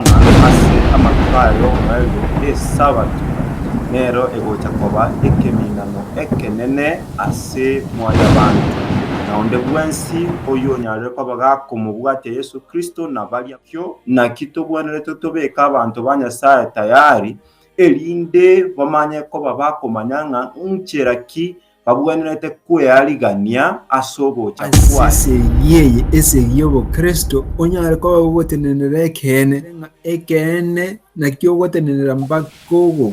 ng'a ase amatuko aya oborerio Esabato nero egocha koba ekeminano ekenene ase mwanyabanto, na onde bwensi oyonyarire koba gakomobwatia Yeso Kristo na baria bang'ina. Erio naki togwenerete tobeke abanto ba Nyasae tayari, erinde bamanye koba bakomanya ng'a nchera ki babuanerete kwearigania ase ogocha kwaye. As'esegi eye, esegi y'obokristo, onyare koba ogotenenera ekeene, ng'a ekeene nakio ogotenenera mpaka ogokwa.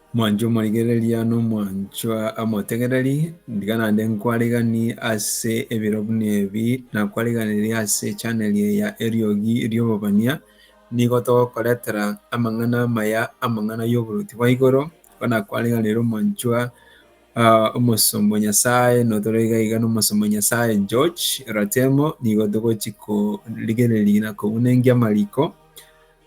Mwanche omorigereria na omwancho amotegereri, ndiga naende nkwareganie ase ebiro buna ebi, nakwareganerie ase echaneli eye ya Eriogi Ri'Obobania. Nigo togokoretera amang'ana amaya, amang'ana y'oboruoti bwa igoro, igo nakwareganeirie omwancho omosomba o Nyasaye, notoro iga iga na omosomba o Nyasaye George Ratemo, nigo togochia korigereria na kounengia amariko.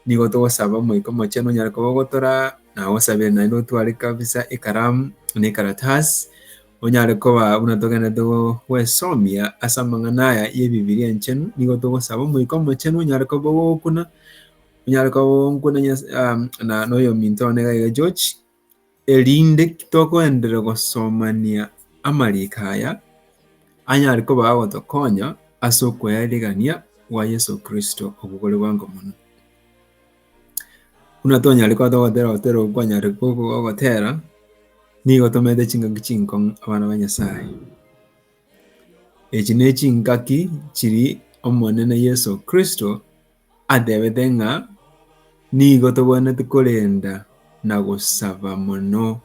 Nigo togosaba Omoika Omochenu onyare koba ogotora na agosabere naende otware kabisa ekaramu na ekaratasi onyare koba buna togenderete gwesomia ase amang'ana aya y'Ebibilia Enchenu. Nigo togosaba Omoika Omochenu onyare koba ogokuna, onyare koba onkuna na oyominto one iga iga George, Erinde togoenderera gosomania amariiko aya, anyare koba agotokonya ase okoyaerigania gwa Yeso Kristo obwo bore bwango mono. Buna tonyare koba togotera ogotera okwo kwanyare gogotera, nigo tomenete chingaki chinkong'u abana ba Nyasae. Echi ne chingaki chiri Omonene Yeso Kristo Atebete ng'a nigo togwenerete korenda na gosaba mono.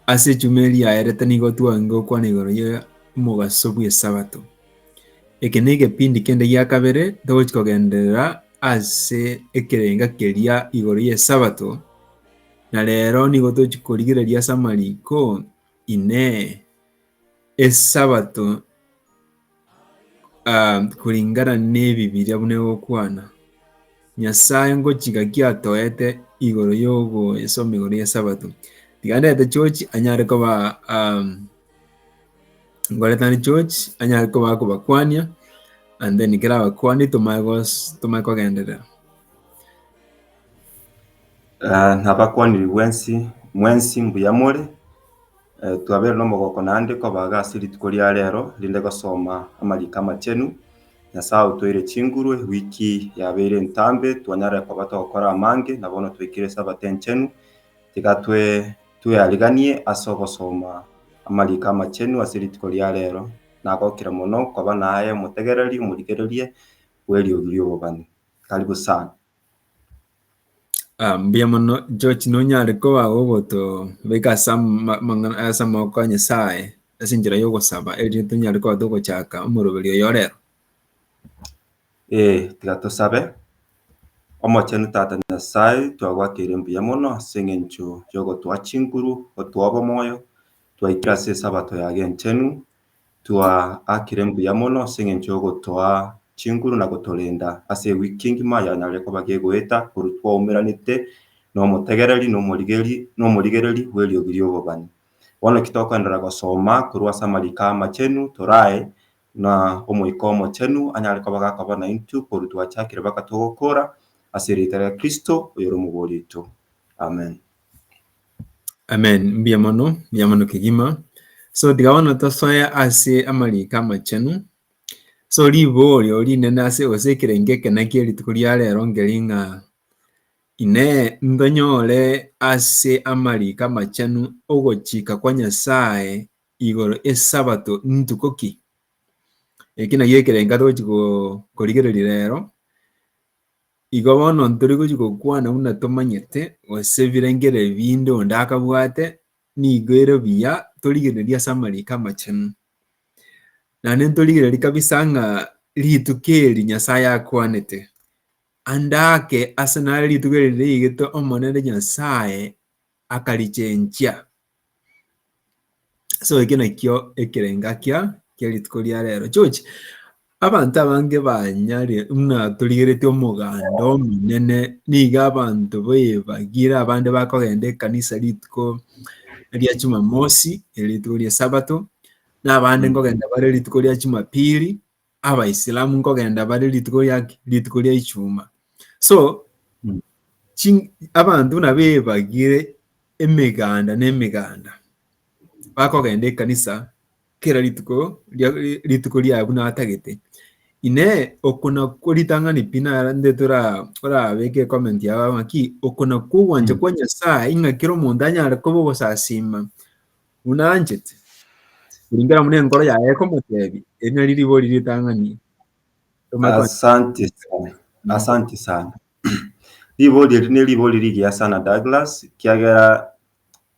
Ase echumi eri yaerete nigo twagigete gokwana igoro ye omogaso bw'esabato. Eke na egepindi kende gia kabere togochi kogenderera ase ekerenga keria igoro y'esabato, na rero nigo tochi korigereria ase amariko Inee! Esabato. Ah, kulingana n'Ebibilia buna egokwana, Nyasae ngochika ki atoete igoro y'ogoesoma igoro y'Esabato? Tiga ndete chochi anyare koba um, ngoretane chochi anyare koba akobakwania and then kera abakwani tomanye gos tomanye kogenderera. Ah, nabakwaniri bwensi mwensi mbuya more. Twabeire nomogoko naende kobaga ase rituko ria rero rinde gosoma amariko amachenu. Nyasae otoire chinguru ewiki yabeire entambe twanyare koba togokora amange na bono twaikire esabato enchenu. Tiga tweariganie ase ogosoma amariko amachenu ase rituko ria rero nagokire mono koba naye omotegereri, omorigereria bweriogi riobobani. Karibu sana. Ah, mbuya mono George, nonyare koba gogotobeka ase ama- amang'ana ase amaboko a Nyasaye ase enchera ya ogosaba erinde tonyare koba togochaka omoroberi oyo o rero. Ee, tiga tosabe. Omochenu Tata Nyasae, twagoakeire mbuya mono ase eng'encho y'ogotoa chinguru, gotoa obomoyo, twaikire ase esabato yago enchenu, Twaakire mbuya mono ase engencho y'ogotoa chinguru na gotorenda ase ewiki ngima yanyarire koba gegoeta korwa twaumeranete nomotegereri na omorigeri na omorigereri bw'eriogi ri'obobani. Bono ki tokoenderera gosoma korwa ase amariko amachenu torae na Omoika Omochenu anyare koba gakoba naintwe korwa twachakire mpaka togokora, ase erieta ria Kristo, oyore omobori oito. Amen. Amen, mbuya mono, mbuya mono kegima. So tiga bono tosoe ase amariko amachenu. So riborio rinene ase gose ekerengo eke naki rituko ria rero nkeri ng'a Inee ntonyore ase amariko amachenu ogochika kwa Nyasae igoro esabato ntuko ki? Eki naki ekerengo atogochi go- korigereria rero, Igo bono ntori gochia gokwana buna tomanyete, gose birengere ebinde onde akabwate, nigo ere buya torigererie ase amariko amachenu. Naende ntorigererie kabisa ng'a rituko eri Nyasae akwanete, ande ake ase nare rituko eri riigete Omonene Nyasae akarichenchia. So ekio nakio ekerengakia kia rituko ria rero. Chochi, abanto abange banyare muna torigereti omoganda omonene, niga abanto baebagire abande bakogenda ekanisa rituko ria Jumamosi, eri rituko ria Sabato, na abande nkogenda bare rituko ria Jumapili, abaisilamu nkogenda bare rituko riaki rituko ria ichuma so Mm. chi- abanto buna bebagire emeganda na emeganda bakogenda ekanisa kera rituko ria- rituko ria buna atagete ine oko nakwo ritang'ani pi narentete ora- orabeke ecomment yao ng'aki oko nakwo ogwancha Mm. kwa nyasaye ng'a kera omonto anyare koba ogosasima buna anchete, kuringana buna enkoro yaye ekomoteebia. Eri nario ribori ritang'ani tomaete konyora. Asante sana. Asante sana. Ribori eri ne ribori rigiya sana Douglas, kiagera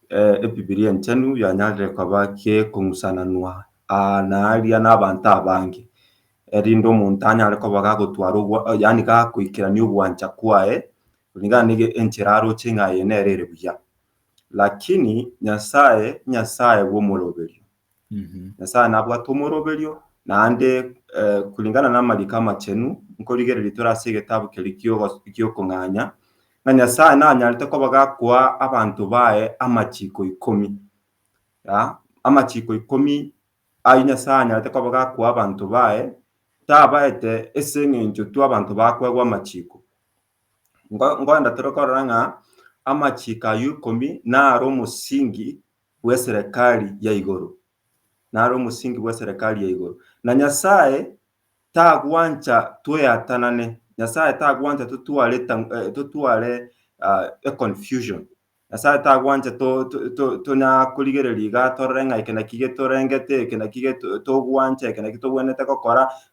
eh, Ebibilia Enchenu yanyarire koba gekong'usananwa aa na aria n'abanto abange, erinde omonto anyare koba gagotwara obwa- yaani gakoikerania ogwancha kwaye, kulingana na ege- enchera aroche ng'a eye nere ere buya. Lakini Nyasae Nyasae bw'omoroberio. Nyasae nabwate omoroberio, naende eh, kulingana n'amariko amachenu, nkorigereria tore ase egetabu keria ki'ogo- ki'okong'anya, ng'a Nyasae nanyarete koba gakoa abanto baye amachiko ikomi. Ya, amachiko ikomi ayio Nyasae anyarete koba gakoa abanto baye, tabaete ase eng'encho tu abanto bakoegwa amachiko, Ngo- ngoenda tore korora ng'a amachiiko ayio ikomi naro omosingi bw'eserekari ya igoro, naro omosingi bw'eserekari ya igoro. Na Nyasae tagwancha tweatanane, Nyasae tagwancha totware ta- eh, totware ah, econfusion. Nyasae tagwancha to- to- to- tonyara korigereria iga torore ng'a eke naki getorengete, eke naki geto- togwancha, eke naki togwenerete gokora,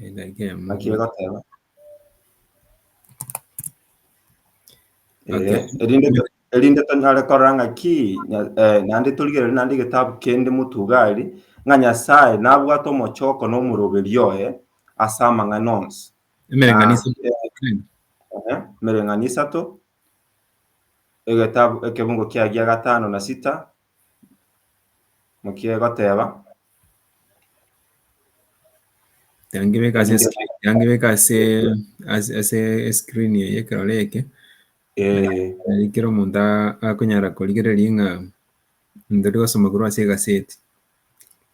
Edaika emo. Naki egoteba. Okay. Eh, erinde erinde tonyare korora ng'a ki nya- eh, naende torigerere naende egetabu kende motugari ng'a nyasae nabwate omochoko na omoroberi oye ase amang'ana onsi Emereng'anio Ah, isato. Ehe, emereng'anio isato egetabu ekebungo kiagia gatano na sita mokie egoteba Yangibeka ase screen, yangibeka ase ase ase screen eye ekerore eke. Eh, Nari kero omonto a- akonyara korigereria ng'a ndiri gosoma korwa ase egaseti.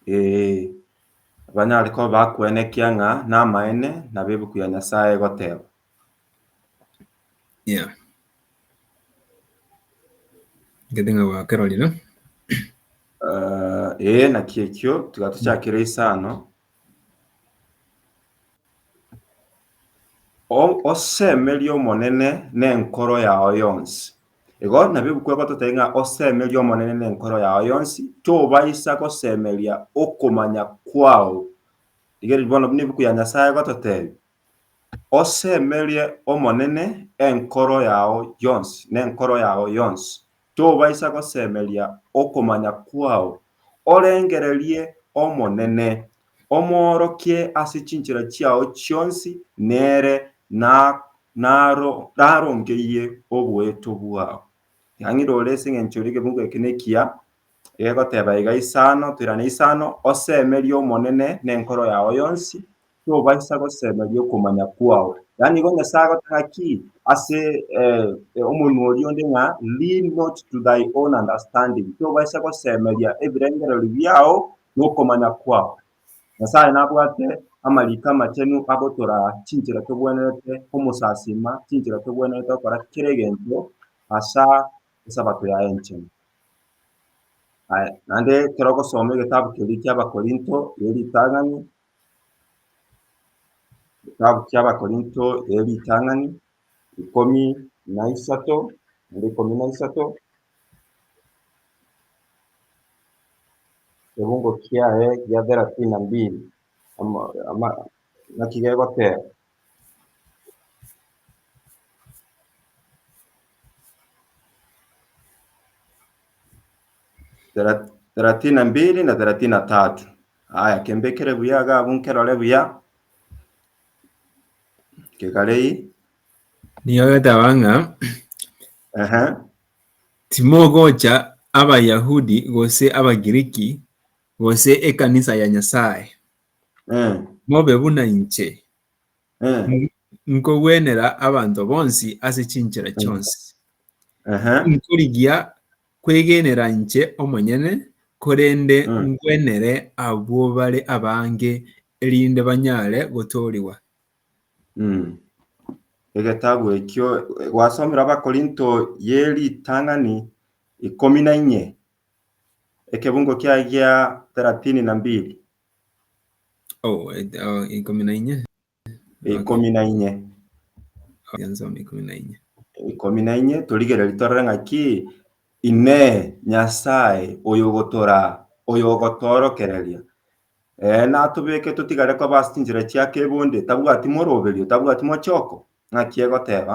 eh, banyare koba bakwenekia ng'a namaene nabo ebuku ya Nyasae egoteba. Yeah. Ngete ng'a gwakerori no? Eh, ee naki ekio tiga tuchakere isano O- osemerie omonene nenkoro yao yonsi igo nabi bukwe gototebia ng'a osemerie omonene nenkoro yao yonsi tobaisa gosemeria okomanya kwao rigereria bono buna ebuku ya nyasaye egototebia Osemerie Omonene enkoro yao yonsi nenkoro yao yonsi, tobaisa gosemeria okomanya kwao. Orengererie Omonene, omoorokie ase chinchera chiao chionsi, nere narongeyie oboeto bwao. Riang'ire ore ase engencho y'ekebugu eke nekiya. egoteba iga isano, toirane isano, Osemerie Omonene nenkoro yao yonsi, tobaisa gosemeria okomanya kwao. Yaani igo Nyasae agoteba ki ase omonwa oria onde ng'a lean not to thy own understanding, tobaisa gosemeria ebirengererio biao na okomanya kwao. Nyasae nabwate amariko amachenu agotoraa chinchera togwenerete komosasima, chinchera togwenerete gokora kera egento asa Esabato yaye enchenu. Aya, naende ekero ogosoma egetabu keria ki'Abakorinto ye ritang'ani, egetabu ki'Abakorinto ye ritang'ani, ikomi na isato, naende ikomi na isato, kifungo kiaye kia thelathini na mbili, ama- ama- naki gegoteba, Thela- thelathini na mbili na thelathini na tatu aya kembekere buya iga abwo nkerore buya kekarei Nigo agataba ng'a ehe timogocha Abayahudi gose Abagiriki gose ekanisa ya Nyasae. Eh, Mobe buna inche, eh, N- nkogwenera abanto bonsi ase chinchera chionsi. aha, Nkorigia kwegenera inche omonyene, korende Mm. ngwenere abwo bare abange, erinde banyare gotoorigwa. mm. Egetabu ekio gwasomire Abakorinto ye ritang'ani ikomi na inye, Ekebungo kiaye gia thelathini na mbili. Oh, eh, oh, ikomi na inye. Ikomi na inye. Okay. Yansoma ikomi na inye. Ikomi na inye torigereri torore ng'aki ine Nyasaye oyogotora oyogotoorokereria ee eh, natobeke totigare kwa basi chinchera chia kebonde tabwati moroberio tabwati mochoko ng'aki egoteba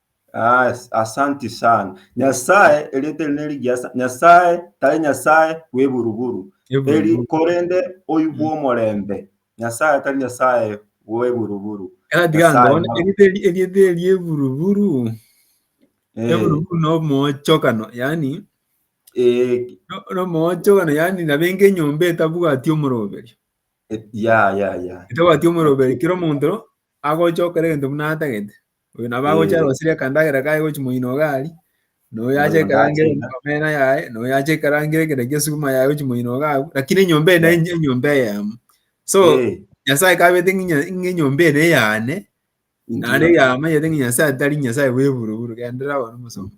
As- asanti sana nyasaye erieta eri nerigiya sa- nyasaye tari nyasaye bweburuburu eri korende oibwa omorembe nyasaye tari nyasaye bweburuburu Nyasaye moro. erieta eri eburuburu Eh, eburuburu na omochokano yani eh, no- na omochokano yani nabenge enyomba etabwati omoroberio eh, ya ya ya etabwati omoroberio kera omonto agocha okora egento buna atagete Oyo nabo agocha arosirie akandagera kaye gochi moino iga ari, na oyo ache Oyo ekarangere nache- na omena yaye, na oyo ache ekarangere ekero kia esuguma yaye gochi moino iga agwo, lakini enyomba eye nere enyomba eyemo. So, Eh, Nyasae kabete ng'inya ng'a enyomba eye nere yane, naende ndio. yamanyete ng'a Nyasae tari Nyasae bw'eburuburu, genderera bono omosomba.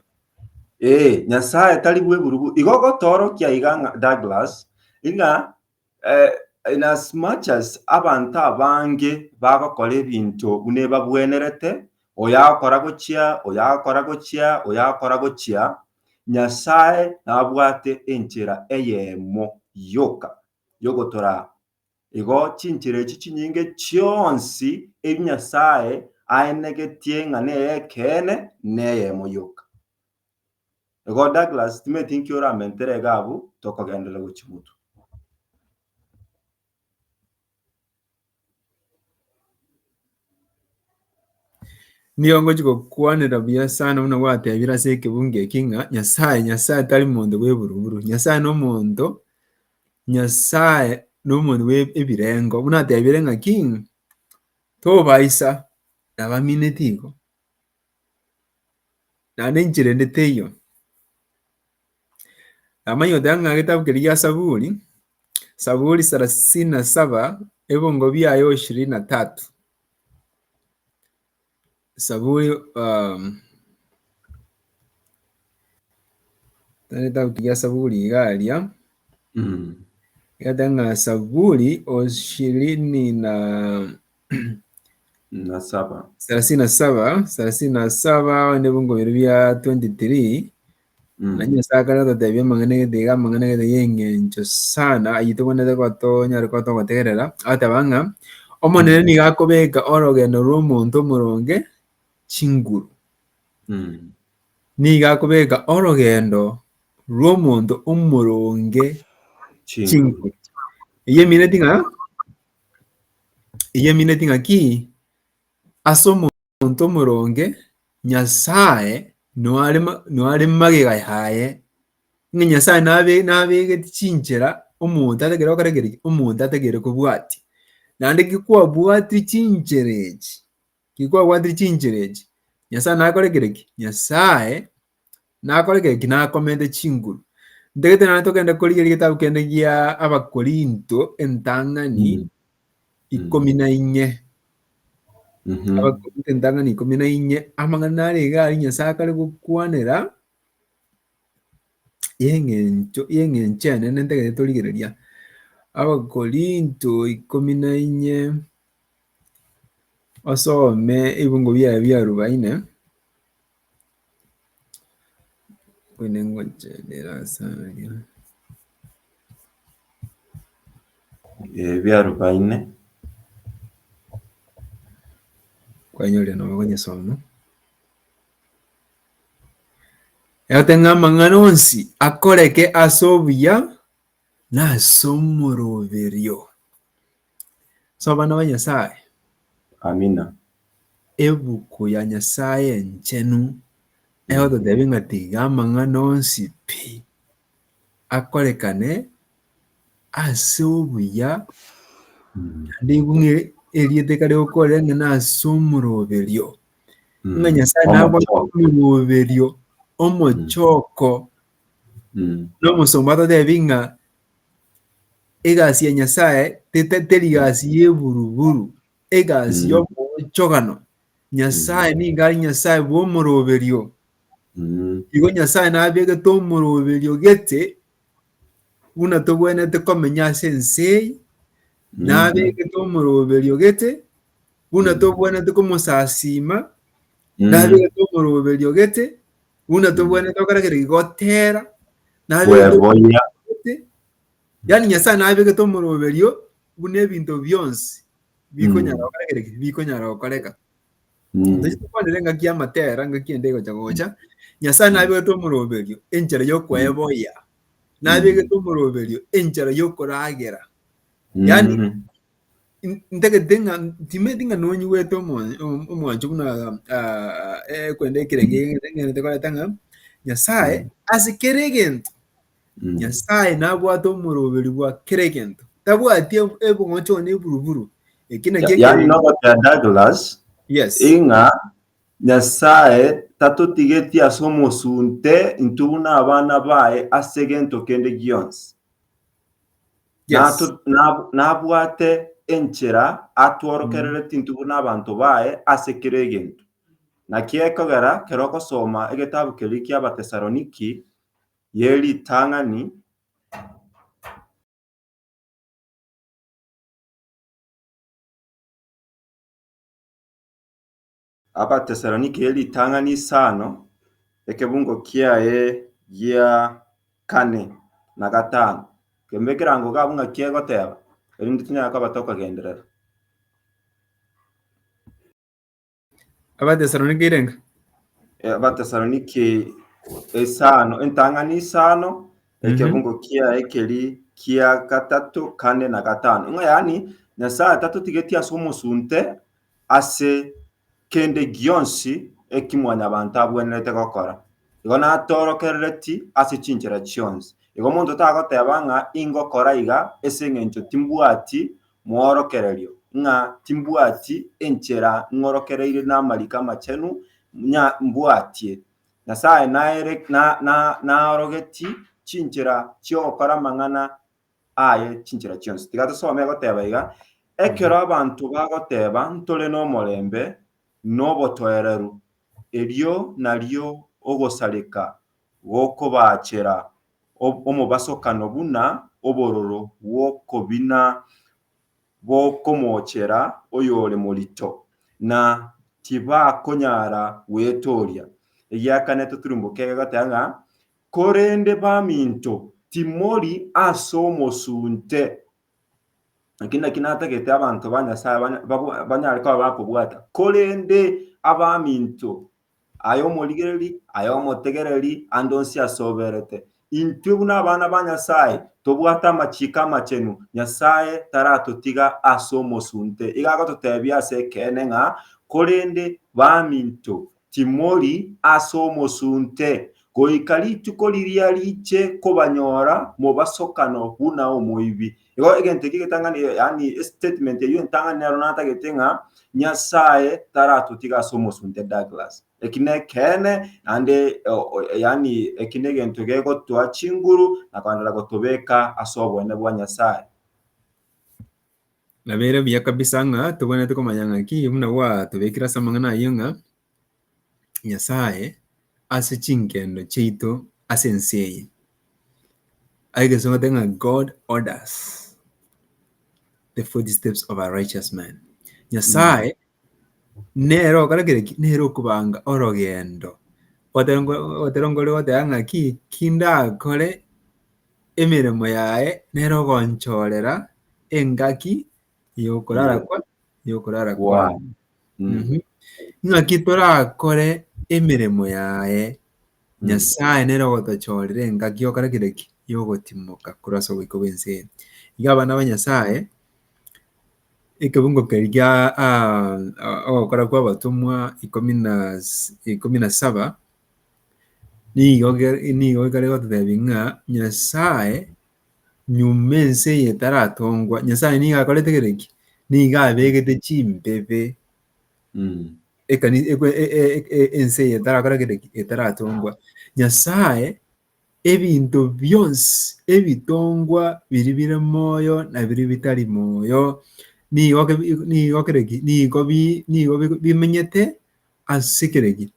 Eh, nyasae tari bweburubu igo gotoorokia iga ng'a douglas ng'a Inasmuch as abanto abange bagokora ebinto buna ebabwenerete, oyo agakora gochia, oyo agakora gochia, oyo agakora gochia, Nyasae nabwate enchera eyemo yoka yogotora. Igo chinchera echi chinyinge chionsi ebi Nyasae aenegetie ng'a ney'ekeene neyemo yoka. Igo Douglas timanyeti nki oramentere iga abwo tokogenderera gochia gotwa. Nigo ngochi gokwanera buya sana buna gwatebire ase ekebunga eki ng'a Nyasae, Nyasae tari monto bw'eburuburu. Nyasae nomonto, Nyasae nomonto bw'ebirengo. Buna atebire ng'aki, tobaisa nabamineti igo. Naende enchera ende teiyo. Namanyire goteba ng'a egetabu keria gia Saburi, Saburi sarasini na saba, ebiongo biaye ishirini na tatu. Saburi egetabu kiria Saburi iga aria, egeteba ng'a Saburi ishirini na na saba. thelathini na saba thelathini na saba onde bongobere bia 23 Mm. na nyasaye akana totebia amang'ana egete iga amang'ana egete y'engencho sana ayio togwenerete gotonyare koba togotegerera ateba ng'a omonene nigo akobeka orogendo rw'omonto omoronge chinguru Mm. nigo akobeka orogendo rw'omonto omoronge Chingu. chinguru eyio emineti ng'a Eyaminetie ng'aki ase omonto omoronge Nyasae noare noare magega yaye, ng'a Nyasae nabe nabegetie chinchera omonto atagere gokora kere ki? omonto atagere kobwatia. Naende ki kwabwatia chinchera echi. Tikwabwatiri chinchera echi, Nyasae nakorekire ki? Nyasae nakorekire ki? Nakomente chinguru. Ntagete nonye togende korigeria egetabu kende gia Abakorinto entang'ani Mm. ikomi na inye. Mhm. Abakorinto entang'ani ikomi na inye, amang'ana nare iga aria Nyasae akare gokwanera y'eng'encho y'eng'encho enene ntagete torigereria. Abakorinto ikomi na inye. Osome ebingo biaye bia arubaine, buna ngocha ndire ase aria, eh bia arubaine, kwanyorire nabo okonyesoma, egate ng'a amang'ana onsi akoreke ase obuya na ase omoroberio. So abana ba Nyasaye, Amina. ebuku ya Nyasaye enchenu egototebia ng'a tiga amang'ana onsi pi akorekane ase obuya, Mm. naende igo ng'a erieta ekare gokorera ng'a nase omoroberio, Mm. ng'a Nyasaye nabwate Omochoko. omoroberio omochoko. Mm. Na omosomba atatebie ng'a Egasi ya Nyasae teta- teri gasi y'eburuburu, egasi Mm. y'omoonchogano. Nyasae nigo are Nyasae bw'omoroberio. Mm. Igo Nyasae nabegete omoroberio gete buna togwenerete komenya ase ense eye, Mm. nabegete omoroberio gete buna Mm. togwenerete komosasiima, Mm. nabegete omoroberio gete Buna tobwenerete gokora kere gigotera. Nabegete Bweboya. Yani Nyasaye nabegete omoroberio buna ebinto bionsi bikonyara Mm. gokora kere ki? Bikonyara gokoreka. Mm. Tochia tokwanera engaki y'amatera, engaki ende egocha gocha. Nyasaye nabegete omoroberio enchera y'okweboya. Nabegete omoroberio enchera y'okoragera. Yani Mm. ntagete ng'a timanyeti ng'a nonyigwete omwancho buna ekwenda ekerengo ekio nkerente koreta ng'a Nyasaye ase kera egento, Nyasaye nabwate omoroberi bwa kera egento. Tabwati ebong'ocho gane eburuburu. Ekio nakio Yaani nogoteba Douglas Yes. ing'a Nyasaye tatotigeti ase omosunte intwe buna abana baye ase egento kende gionsi. Yes. Nabwate enchera atworokerere tintubu n'abanto baye ase kera egento. Naki ekogera kero ogosoma egetabu keria ki'Abatesaloniki ye ritang'ani, Abatesalonike ritang'ani isano, ekebungo kiaye gia kane na gatano. Kembe ekerango gabo ng'a ki egoteba, erinde tonyare koba tokogenderera. Abatesalonike irenge. Abatesalonike isano, entang'ani isano, ekebungo kiaye keri kia gatato, kane na gatano. Ng'a yaani Nyasaye tatotigetie ase omosunte ase kende gionsi eki mwanyabanto abwenerete gokora. Igo natoorokerereti ase chinchera chionsi. Igo omonto tagoteba ng'a ingokora iga ase eng'encho timbwati moorokererio, ng'a timbwati enchera ng'orokereire namariko amachenu, ng'a mbwatie. Nyasae naere- na- na- naorogetie chinchera chi'ogokora amang'ana aye chinchera chionsi. Tiga tosome egoteba iga, Ekero abanto bagoteba ntore nomorembe nobotoereru, erio nario ogosareka gokobaachera omobasokano buna obororo bw'okobina bokomoochera oyore morito, na tibakonyara gwetooria. Egiakane toturumboke egoteba ng'a Korende baminto, timori as'omosunte, eki naki natagete abanto ba Nyasaye banyare koba bakobwata, korende abaminto, aye omorigereri, aye omotegereri, ande onsi asoberete. Intwe buna abana ba Nyasaye tobwate amachiiko amachenu, Nyasaye taratotiga as'omosunte. Iga agototebia as'ekeene ng'a, Korende baminto, Timori as'omosunte, goika rituko riria riche kobanyora mobasokano buna omoibi. Igo egento ekia egetang'ani, yaani estatement eyio entang'ani nero natagete ng'a Nyasaye taratotiga as'omosunte Douglas. Eki nekeene naende yaani eki negento gegotoa chinguru na kogenda gotobeka as'oboene bwa Nyasaye. Nabeire buya kabisa ng'a tobwenerete komanya ng'aki buna gwatobekire ase amang'ana ayio ng'a Nyasaye ase chinkendo chiaito ase ense eye egesu ogote ng'a God orders the foot steps of a righteous man. Nyasaye nere okora kera ki? Nere okobanga orogendo. Gotebi- goteba ng'a ki? Ki ndakore Emeremo yaye nere ogonchoorera engaki y'okorara kwa y'okorara kwane. Mhm. Ng'aki torakore emeremo yaye, Nyasaye nere ogotochoorera engaki y'okora kende ki? Y'ogotimoka korwa ase oboiko bw'ense eye. Iga abana ba Nyasaye, ekebungo keria gia ogokora kw'abatomwa ikomi na si- ikomi na saba, Nigo ge- nigo ekare gototebia ng'a Nyasae nyuma ense eye etaratongwa, Nyasae nigo akorete kere ki? Nigo abegete chimbebe Mm. ekani ekwe- e- e- e- e- ense eye etarakora kere ki? Etaratongwa. Nyasae ebinto bionsi ebitongwa biri bire moyo na biri bitari moyo nigo ke- nigo kere ki? Nigo bi- nigo bi- bimenyete ase kere ki?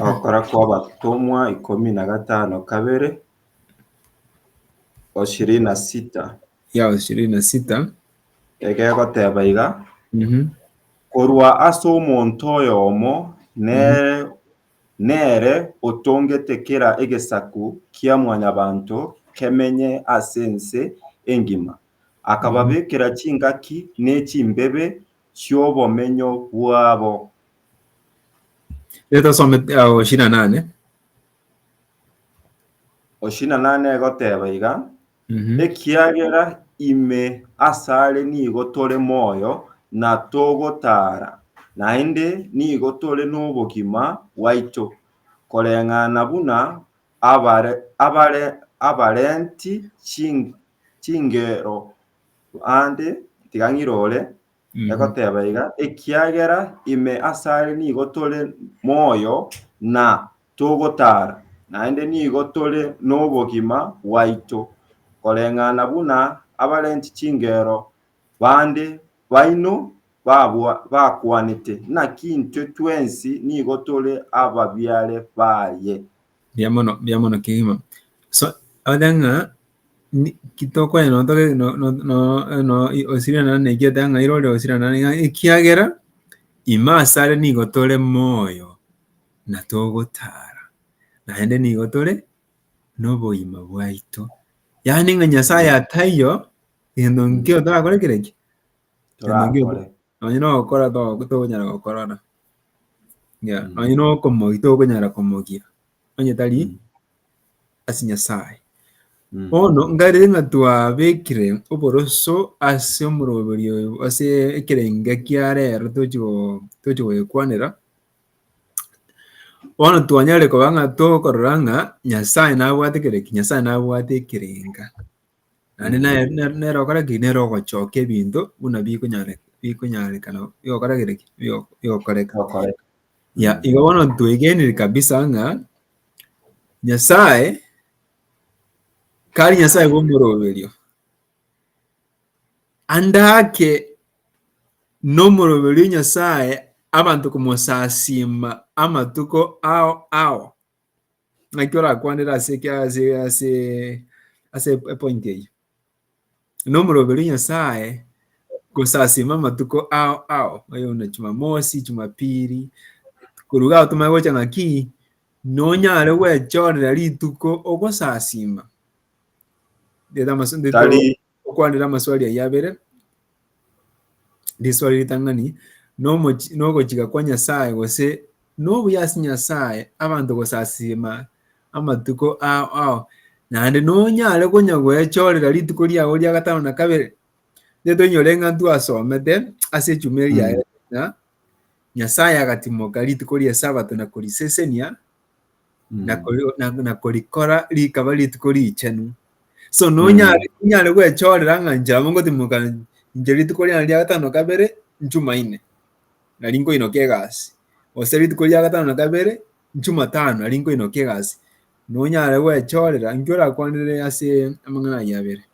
Ogokora kw'Abatomwa ikomi na gatano kabere, ishirini na sita. ya ishirini na sita Egegoteba iga, Mhm. korwa ase omonto oyomo nere, nere otongete kera egesaku kia mwanyabanto kemenye ase ense engima, akababekera chingaki ne chimbebe chi'obomenyo bwabo, Reta some ao shina nane. Oshina nane egoteba iga, Mhm. ekiagera ime asare nigo tore moyo na togotara, naende nigo tore nobogima bwaito, koreng'ana buna abare, abare, abarenti chin- chingero bande, tiga ng'irore, Egoteba iga, ekiagera ime asare nigo tore moyo na togotaara, naende nigo tore nobogima bwaito, koreng'ana buna abarenti chingero bande baino bakwanete, naki intwe twensi nigo tore ababiare baye. Mbuya mono, mbuya mono kegima. So, abate ng'a Ni- kitokwanyi noto ge- no- no- no- no- i- osirana na eki atang'aire ore osirana na ng'a- ekiagera ime asare nigo tore moyo na togotara, naende nigo tore noboima bwaito. Yaani ng'a Nyasaye ataiyo, egento nkio torakore kere ki? Egento nkio Torakore. nonye nogokora to- tokonyara gokora ona. Yeah, nonye nokomogia tokonyara komogia. onye tari Mm. ase Nyasae. Mm. Bono nkarere ng'a twabekire oboroso ase omoroberio oyo ase ekerenga kia rero tochi go- tochi goyekwanera, bono twanyare koba ng'a tokorora ng'a Nyasae nabwate kera ki? Nyasae nabwate ekerenga. Naende nere nere nere ogokora ki? Nere ogochokia ebinto buna bikonyare bikonyarekana bigokora gete ki? Bigo bigokoreka. Bigokoreka. Ya, igo bono twegenire kabisa ng'a Nyasaye kari Nyasaye bw'omoroberio, ande ake nomoroberio Nyasaye abanto komosasiima amatuko ao ao. naki orakwanere ase ase epointi eyio. Na omoroberi o Nyasaye gosasima amatuko ao ao, oye buna Jumamosi, Jumapili, koruga ao tomanye gocha ng'aki nonyare gwechorera rituko ogosasima. Okwanera amaswali ayio abere, riswali ritang'ani, Nomochi- nogochika kwa Nyasae gose nobuya ase Nyasae abanto gosasiima amatuko ao ao naende nonyare konya goechorera rituko riao ria gatano na kabere? Nigo toinyore eng'anto asomete ase echumi eria yaye ng'a Nyasae agatimoka rituko ri'Esabato na korisesenia, na Mm. kori- na- na korikora rikaba rituko richenu so nonyare inyare gwechorera ng'a inche nabo ngotimoka inche rituko riane ria gatano na kabere nchumaine nari nkoinoka egasi gose rituko ria gatano na kabere nchumatano nari nkoinoka egasi nonyare gwechorera inki orakwanire ase amang'ana ayio abere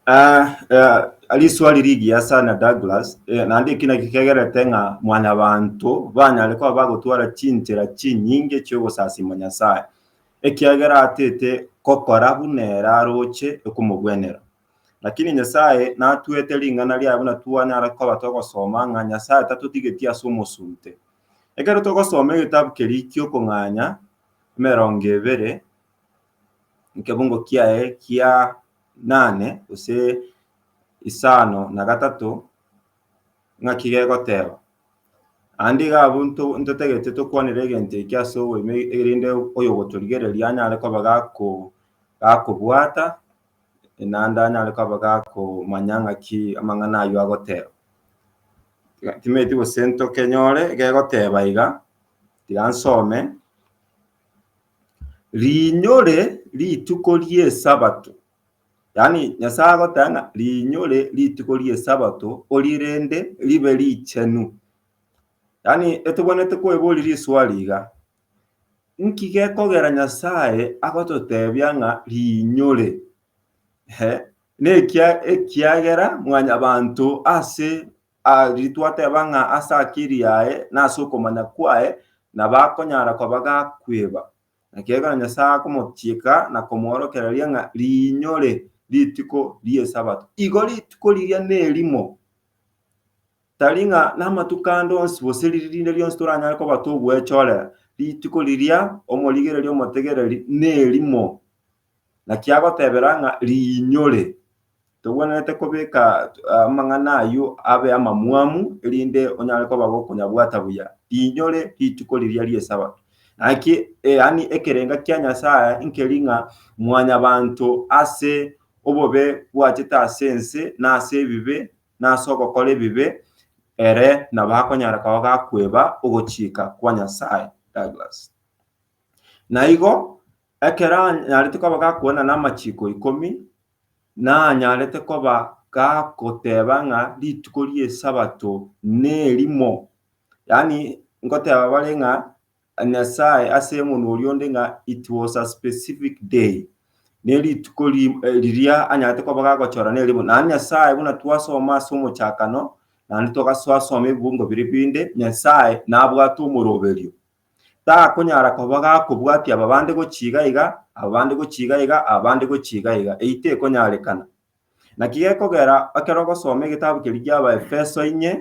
Ah, eh, riswali rigiya sana Douglas, eh, naende eki naki kegerete ng'a mwanyabanto banyare koba bagotwara chinchera chinyinge chi'ogosasima Nyasae, ekiagera atete gokora buna ere aroche okomogwenera. Lakini Nyasae natwete ring'ana riaye buna twanyara koba togosoma ng'a Nyasae tatotigetie ase omosunte. Ekero togosoma egetabu keria ki'okong'anya emerongo ebere, nkebungo kiaye kia nane gose isano na gatato ng'aki gegoteba. Aande iga abwo nto- ntotagete tokwanere egento ekio ase oboime erinde oyogotorigereria anyare koba gako- gakobwata naende anyare koba gakomanya ng'aki amang'ana ayio agoteba. Iga- timanyeti gose ntokenyore gegoteba iga, tiga nsome. Riinyore rituko ri'Esabato, yaani Nyasae agoteba ng'a riinyore rituko ri'Esabato orie rende ribe richenu. Yaani etobwenerete koeboria riswali iga, nki gekogera Nyasae agototebia ng'a riinyore? Nekiagera mwanyabanto ase Aria twateba ng'a ase akiri yaye na ase okomanya kwaye nabo akonyara koba gakweba, ekiagera Nyasae akomochiika na komoorokereria ng'a riinyore rituko ri'Esabato. Igo rituko riria nerimo, tari ng'a namatuko ande onsi gose riria rinde rionsi toranyare koba togwechorera. Rituko riria omorigereria omotegereri nerimo. Naki agotebera ng'a riinyore togwenerete kobeka amang'ana ayio abe amamwamu, erinde onyare koba gokonyabwata buya riinyore rituko riria ri'Esabato. Naki yaani ekerenga kia Nyasae nkeri ng'a mwanyabanto ase obobe bwachete ase ense na ase ebibe na ase ogokora ebibe ere nabo akonyara koba gakweba ogochika kwa Nyasae. Douglas. Na igo Ekero anyarete koba gakwana namachiiko ikomi, nanyarete koba gagoteba ng'a rituko ri'esabato nerimo. Yaani ngoteba bare ng'a Nyasaye ase omonwa oria onde ng'a it was a specific day, nerituko riria anyarete koba gagochora nerimo. Naende Nyasaye buna twasoma ase omochakano, naende togasoasoma ebibungo biria binde, Nyasaye nabwate omoroberio. Takonyara koba gakobwatia aba bande gochia iga iga, aba bande gochia iga iga, aba bande gochia iga iga. Eyio tekonyarekana. Naki gekogera ekero ogosoma egetabu keria gia Abaefeso inye,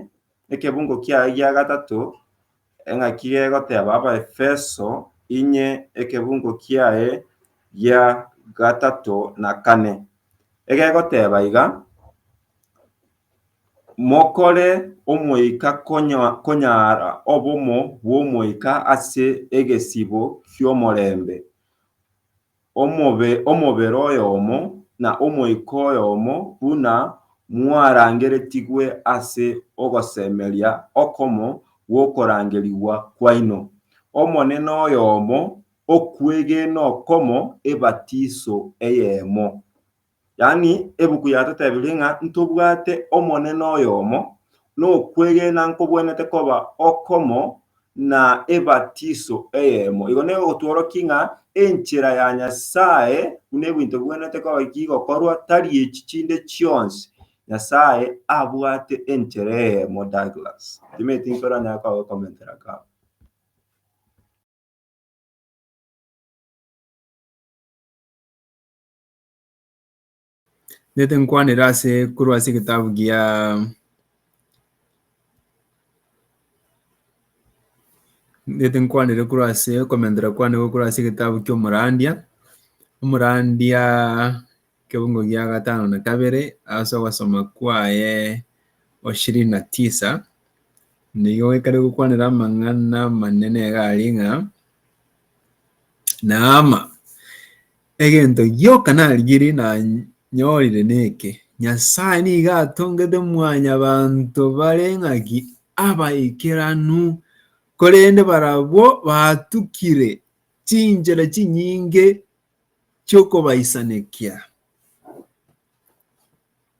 ekebungo kiaye gia gatato, eng'aki gegoteba Abaefeso inye ekebungo kiaye gia gatato na kane, egegoteba iga, Mokore omoika konyara obomo bw'omoika ase egesibo ki'omorembe, omobere oyomo, na omoika oyomo, buna mwarangeretigwe ase ogosemeria okomo gw'okorangerigwa kwaino. Omonene oyomo, okwegena okomo, ebatiso eyemo. Yaani, ebuku yatotebirie ng'a ntobwate Omonene oyomo, na okwegena nkobwenerete koba okomo, na ebatiso eyemo. Igo negotworokia ng'a enchera ya Nyasae buna ebinto bibwenerete koba ki gokorwa, tari echi chinde chionsi. Nyasae abwate enchera eyemo, Douglas. Timanyeti tinkoranyare kogokomentera kaba. Nete nkwanera ase korwa ase egetabu gia nete nkwanere korwa ase okomentera kwane gokwa korwa ase egetabu kia omorandia omorandia kebungo gia gatano na kabere ase ogosoma kwaye ishirini na tisa nigo ekare gokwanera amang'ana amanene iga aria ng'a naama Egento gioka narigirie nanyorire neke, Nyasae nigo atongete mwanyabanto bare ng'aki abaikeranu, korende barabwo batukire chinchera chinyinge chi'okobaisanekia.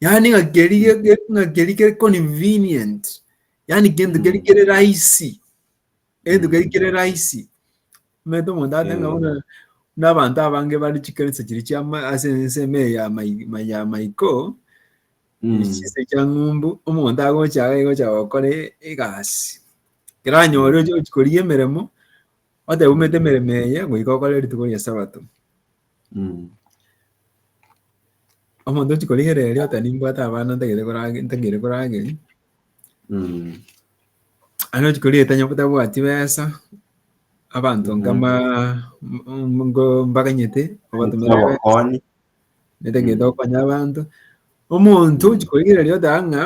yaani ng'a keri ge- ge- ng'a keri kere convenient yaani kento keri Mm. kere rahisi kento Mm. keri kere rahisi omanyete omonto ate ng'a Eh. buna buna abanto abange bare chikanisa chiria chia ma- ase ensemo eye ya mai- ma- ya maiko Mm. chinse chia ng'umbu omonto agocha iga agocha gokora e- egasi keranyore ochi ochi korigia emeremo otebi omanyete emeremo eye goika okore rituko ria sabato Mm. Omonto ochi korigera erio ota nimbwate abana ntagete korage ntagete korageri. Mm. Ande ochi korigera tanya botabwati besa. Abanto Mhm. nkama mm, ngo mbaganyete obatumira besa. Obokonyi. Netagete Mm. okonya abanto. Omonto ochi korigera erio ota ng'a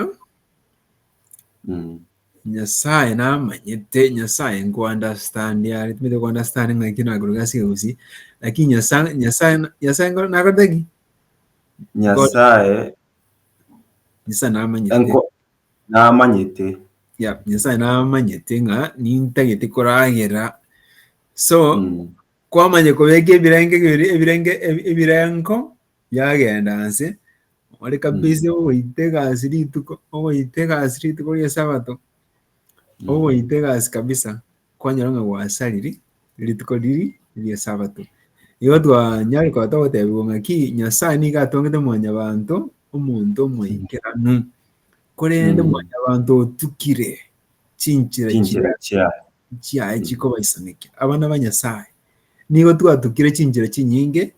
Nyasaye namanyete, Nyasaye nkounderstandia are, timanyete kounderstanda ng'a ekio nakore egasi eye gose, lakini Nyasaye Nyasaye Nyasaye nkore nakorete ki? nyasaye Nyasaye namanyete. enko- namanyete Yeah, Nyasaye namanyete ng'a nintagete koragera. So, Mm. kwamanya kobeka ebirenge biri- ebirenge ebi- ebirengo Yagenda anse, ore kabisa ogoita egasi rituko, ogoita egasi rituko ri'esabato, ogoita egasi kabisa, kwanyora ng'a gwasariri rituko riri ri'esabato. Igo twanyare koba togotebiwa ng'aki, Nyasae nigo atongete mwanyabanto, omonto omoikeranu, korende Mm. mwanyabanto otukire chinchera chia Chinchera chiaye. chiaye chikobaisanekia. Abana ba Nyasae, nigo twatukire chinchera chinyinge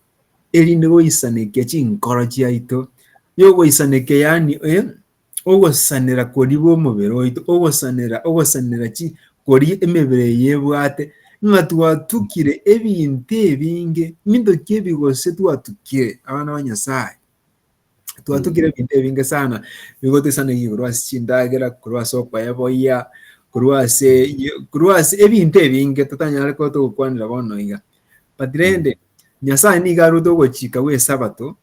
erinde goisanekia chinkoro chiaito, yogoisanekia yaani ogosanera koria bw'omobere oito, ogosanera, ogosanera chi koria emebere eye ebwate, ng'a twatukire ebinto ebinge, minto ki ebi gose twatukire abana ba Nyasae? twatugire ebinto ebinge sana bigotesanegi korwa ase chindagera korwa ase okoya boyia korwa ase korwa ase ebinto ebinge totanyare koba togokwanera bono iga but rende nyasaye nigo arwete ogochika gwa esabato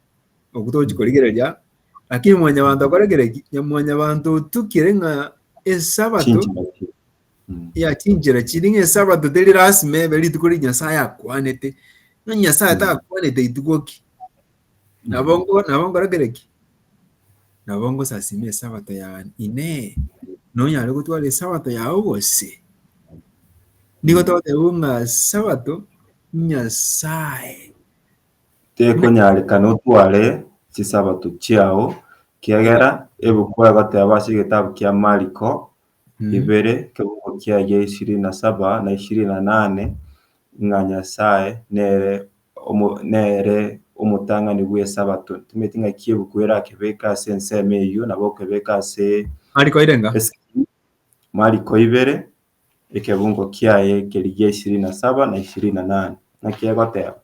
oku togochi korigereria lakini mwanyabanto akorekere ki mwanyabanto otukire ng'a esabato Chinchina ki- Mm. ya chinchera chiri ng'a esabato teri lasima ebe rituko ri nyasaye akwanete ng'a nyasaye Mm. takwanete rituko ki Nabo ngo- nabo ngorakere ki? Nabo ngosasima esabato yane. Inee, nonyare gotwara esabato yao gose? Nigo togoteba ng'a sabato Nyasaye. Tekonyarekana otware chisabato chiao, kiagera ebuku egoteba ase egetabu kia Mariko ibere, ekerogo kiaye ishirini na saba na ishirini na nane, ng'a Nyasaye nere Omo nere omotang'ani bw'Esabato. Timanyeti ng'aki ebuku erake beke ase ensemo eyio nabo okebeka ase. Mariko ire nga. Esegi. Mariko ibere, ekebungo kiaye kerigia ishirini na saba na ishirini na nane. Naki egoteba.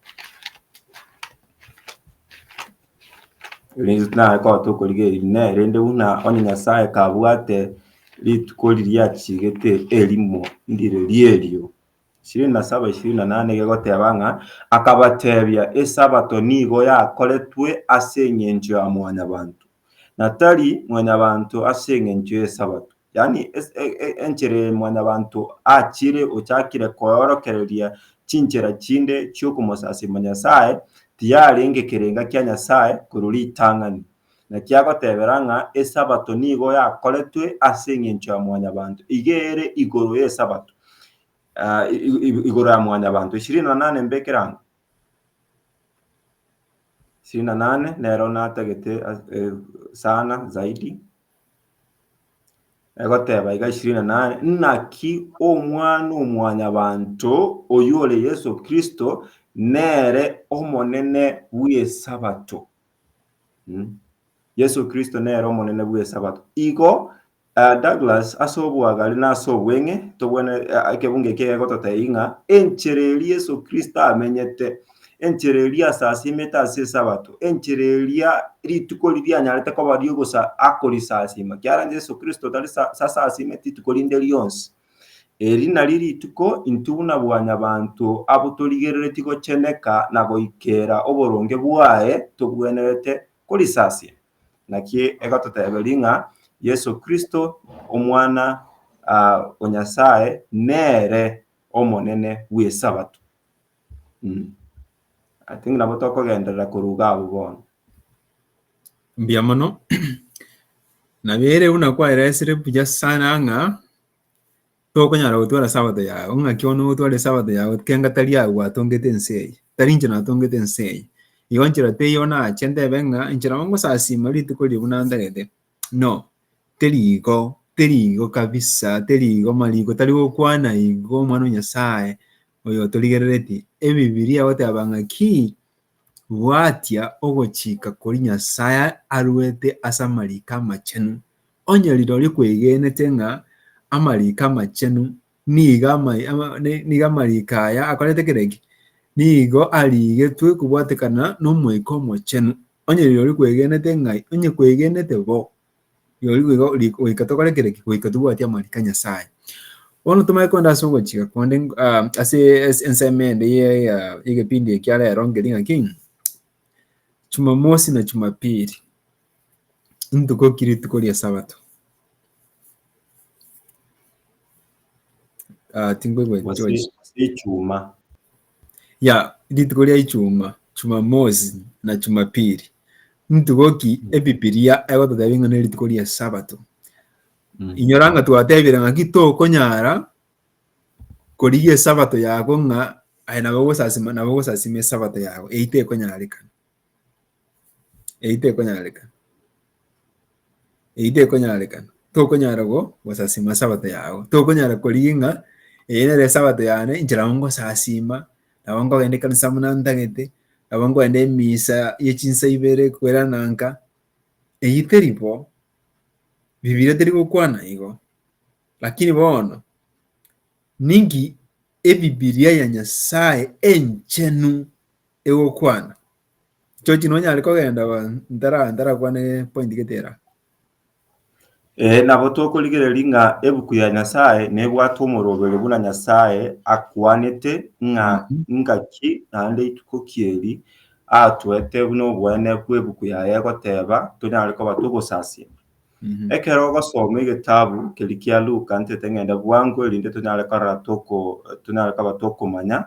Riri naye kote okorigia eri ne rende buna onye Nyasaye kabwate rituko riria achigete erimo ndire rierio. Ishirini na saba, ishirini na nane, gegoteba ng'a, Akabatebia, Esabato nigo yakoretwe ase engencho ya Mwanyabanto, na tari Mwanyabanto ase engencho y'Esabato. Yaani, es- e- e- enchera eye Mwanyabanto achire, ochakire koorokereria chinchera chinde chi'okomosasimia Nyasae, tiyarenge kerenga kia Nyasae, korwa ritang'ani. Naki agotebera ng'a Esabato nigo yakoretwe ase engencho ya Mwanyabanto, iga ere igoro y'Esabato, igoro ya Mwanyabanto. Ishirini na nane mbekere ang'o? Ishirini na nane nero natagete sana zaidi, egoteba iga ishirini na nane, Naki Omwana-o-Mwanyabanto, oyio ore Yeso Kristo, nere Omonene bw'Esabato. Mm. Yesu Kristo nere omonene bw'esabato. Igo eh, Douglas ase oboagare na ase obweng'e tobwene eh, ekebunga eki egegototebia ng'a enchera eria Yesu Kristo amenyete enchera eria asasimete ase esabato enchera eria rituko riria anyarete koba riogosa akorisasima kiara Yesu Kristo tari sa- sasasimeti rituko rinde rionsi Eri nari rituko intwe buna bwanyabanto abo torigereretie gocheneka na goikera oboronge bwaye tobwenerete korisasia. Naki egototeberia ng'a Yeso Kristo, Omwana o Nyasae, nere Omonene bw'Esabato. I think nabo tokogenderera korwa iga abwo bono. Mbuya mono. Nabere buna kwaeresire buya sana ng'a tokonyara gotwara sabato yao, ng'aki one ogotwara esabato yao kenga tari agwo gwatongete ense eye, tari inche natongete ense eye. Igo nchera teiyo nache ntebe ng'a inche nabo ngosasima rituko riria buna ntarete, no, terigo, terigo kabisa, terigo, mariko tari gokwana igo, omwana o Nyasaye oyo otorigereretie. Ebibiria egoteba ng'a ki, Bwatia ogochika koria Nyasae aruete ase amariko amachenu, onye rirorio kwegenete ng'a amariko amachenu nigo nigo amariko aya akorete kere ki? Nigo arigetwe kobwatekana n'Omoika Omochenu. Onye rirorio kwegenete ng'ai? Onye kwegenete bo, Rirorio boigo ri- goika tokore kere ki? goika tobwati amariko a Nyasae. Bono tomanye kogenda ase ogochika konde ng- ah, ase ase ensemo ende ya- ya- y'egepindi ekia rero nkeri ng'aki, Jumamosi na Jumapili ntuko ki? Rituko ri'Esabato. Ah, tinkoigwa Gose George. ase echuma. ya rituko ria Ichuma, Chumamosi, na Chumapili. Ntuko ki Ebibilia egototebia ng'a nerituko ri'Esabato? Inyora ng'a twatebire ng'aki tokonyara korigia Esabato yago ng'a aye nabo ogosasima nabo ogosasima Esabato yago, eyio tekonyarekana. Eyio tekonyarekana, eyio tekonyarekana, tokonyara gosasima esabato yago, tokonyara korigia ng'a eye nere esabato yane inche nabo ngosasima, nabo nkogenda ekanisa buna ntagete, nabo nkogenda emisa ye chinsa ibere kwerana nka, eyio teri bo, Bibilia teri gokwana igo. Lakini bono, ninki Ebibilia ya Nyasae enchenu egokwana? Chochi nonyare kogenda ba ntara ntarakwane point gete era. Ee, nabo tokorigereria ng'a ebuku ya Nyasae nebwate omoroberi buna Nyasae akwanete ng'a Mhm. ingaki naende rituko ki eri atoete buna obweene bw'ebuku yaye egoteba tonyare koba togosasia. Mhm. Ekero ogosoma egetabu keri kia Luka ntete ng'ende bwango erinde tonyare korora toko tonyare koba tokomanya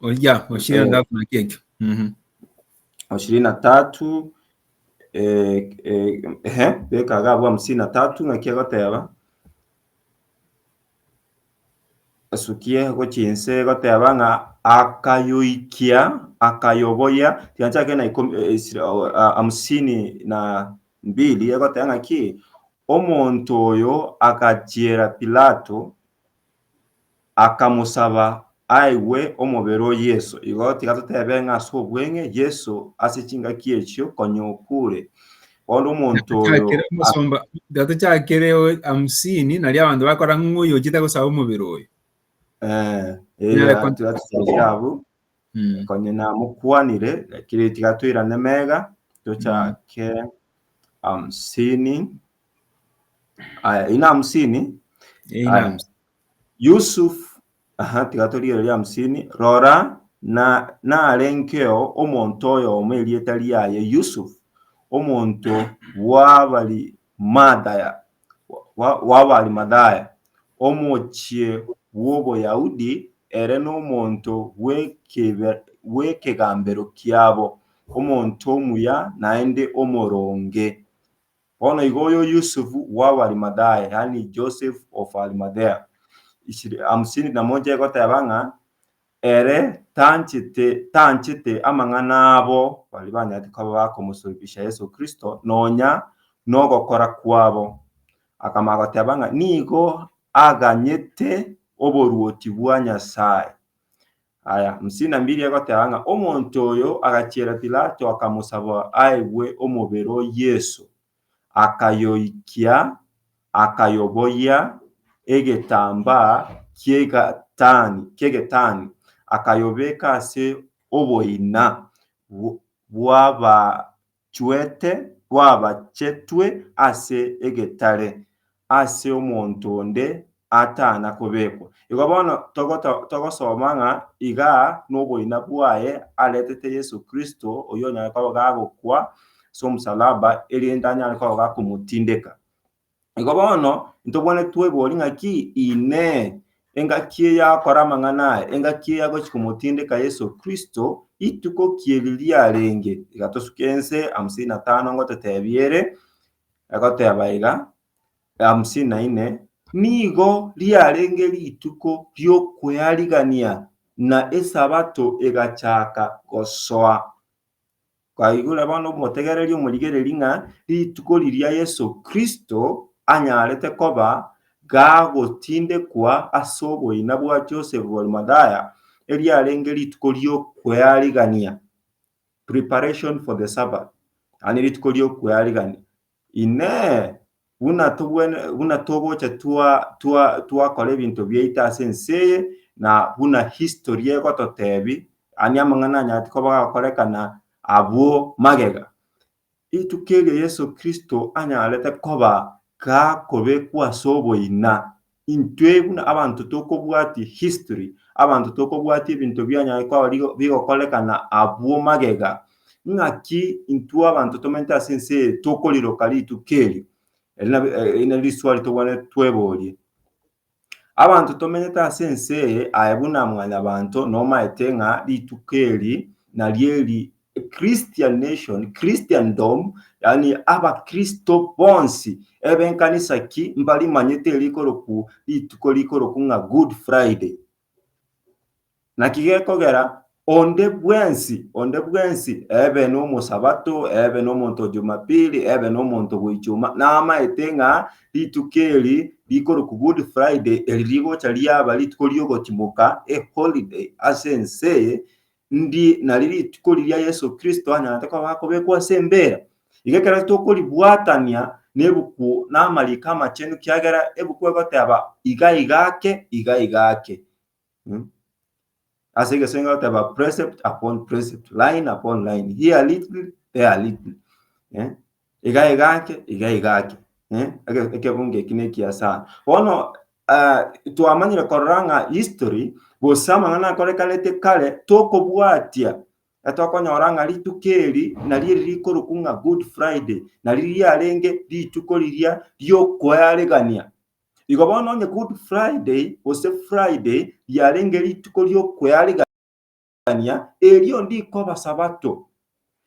Oya, o ishirini na tatu naki ekio. Mhm. o ishirini na tatu eh, eh, ehe, beka agabo hamsini na tatu ng'aki egoteba esukie gochinse egoteba ng'a akayoikia akayoboya tiganchake na ikomi eh, isira- o, a- hamsini na mbili egoteba ng'aki omonto oyo agachiera pilato akamosaba aigwe omobere o Yeso. Igo tiga totebe ng'a ase obweng'e Yeso ase chingaki echio konya okure. Bono omonto oyo Chakere omosomba dato chakere o- hamsini naria abanto bakora ng'o oyo ochete gosaba omobere oyo eh, Nyare eria kon- tiga totoche abwo. Mm. konya namokwanire lakini tiga toirane mega tochake hamsini Aya, ina hamsini. Eina Aya. hamsini. Yusuf, aha, tiga torigereria hamsini. Rora, na narengeo omonto oyomo erieta riaye Yusuf, omonto bw'Abarimadaya, bwa- bw'Abarimadaya, omochie bw'Oboyahudi, ere nomonto bw'ekebe- bw'ekegambero kiabo, omonto omuya naende omoronge. Bono igo oyo Yusufu w'Abarimathaya, yaani Joseph of Arimathea, ishirini hamsini na moja egoteba ng'a ere tanchete tanchete amang'ana abo baria banyaretwe koba bakomosoribisha Yeso Kristo, nonya nogokora kwabo, akamanya goteba ng'a nigo aganyete oboruoti bwa Nyasaye, Aya, Msinambirie goteba ng'a omonto oyo agachiera Pilato akamosaba aegwe omobere o Yeso, akayoikia, akayoboyia egetambaa ki'egetani, ki'egetani, akayobeka ase oboina bw'aba Chwete rwabachetwe ase egetare ase omonto onde atana kobekwa. Igo bono togosoma ng'a iga noboina bwaye aretete Yeso Kristo oyio onyare koba gagokwa as'omosalaba erinde anyare koba gakomotindeka. Igo bono ntobwane twebori ng'aki Inee! Engaki eyakora amang'ana aya, engaki eya gochia komotindeka Yeso Kristo, rituko ki eri riarenge? Iga tosuke ense hamsini na tano ngototebia ere, egoteba iga, hamsini na ine, Nigo riarenge rituko ri'okwearigania, na Esabato egachaka gosoa. Twaigure bono omotegereria omorigereri ng'a rituko riria Yeso Kristo anyarete koba gagotindekwa ase oboina bwa Josefu bw'Arimathaya, eriarenge rituko ri'okwearigania, preparation for the Sabbath, yaani rituko ri'okwearigania. Inee! Buna tobwene, buna togocha twa, twa, twakora ebinto biaito ase ense eye, na buna history egototebi, ani amang'ana anyati koba gakorekana abwo magega. Rituko erio Yeso Kristo anyarete koba gakobekwa ase oboina, Intwe buna abanto tokobwatia history, abanto tokobwatia ebinto bianyare koba bigokorekana abwo magega, ng'aki intwe abanto tomente ase ense eye tokoriroka rituko erio? Eri nab eri nari riswali tokobwanete tweborie. Abanto tomenyete ase ense eye aye buna mwanyabanto nomaete ng'a rituko eri nari eri Christianation, Christendom, yaani abakristo bonsi ebe nkanisa ki mbarimanyete erikorokwu rituko rikorokwu ng'a Good Friday. Naki gekogera onde bwensi, onde bwensi ebe nomosabato, ebe nomonto o Jumapili, ebe nomonto bw'Ichuma, namaete ng'a rituko eri rikorokwu Good Friday eri rigocha riaba rituko ri'ogotimoka, a holiday, ase ense Ndi nari rituko riria Yeso Kristo anyorete koba akobekwa ase embeera. Iga ekero tokoribwatania nebuku na amariko amachenu kiagera ebuku egoteba iga iga ake, iga iga ake. Mm. Ase egesenge egoteba precept upon precept, line upon line, here little, there little. Eh? iga iga ake, iga iga ake, eh, eke- ekebungo eki nekiya sana. Bono ah, twamanyire korora ng'a history gose amang'ana akorekanete kare tokobwatia etokonyora ng'a rituko eri nari eri rikorokwa ng'a good friday nari riarenge rituko riria riokoearigania igo bono onye good friday gose friday riarenge rituko riokoearigania. kw'okwegania, erio ndikwa abasabato,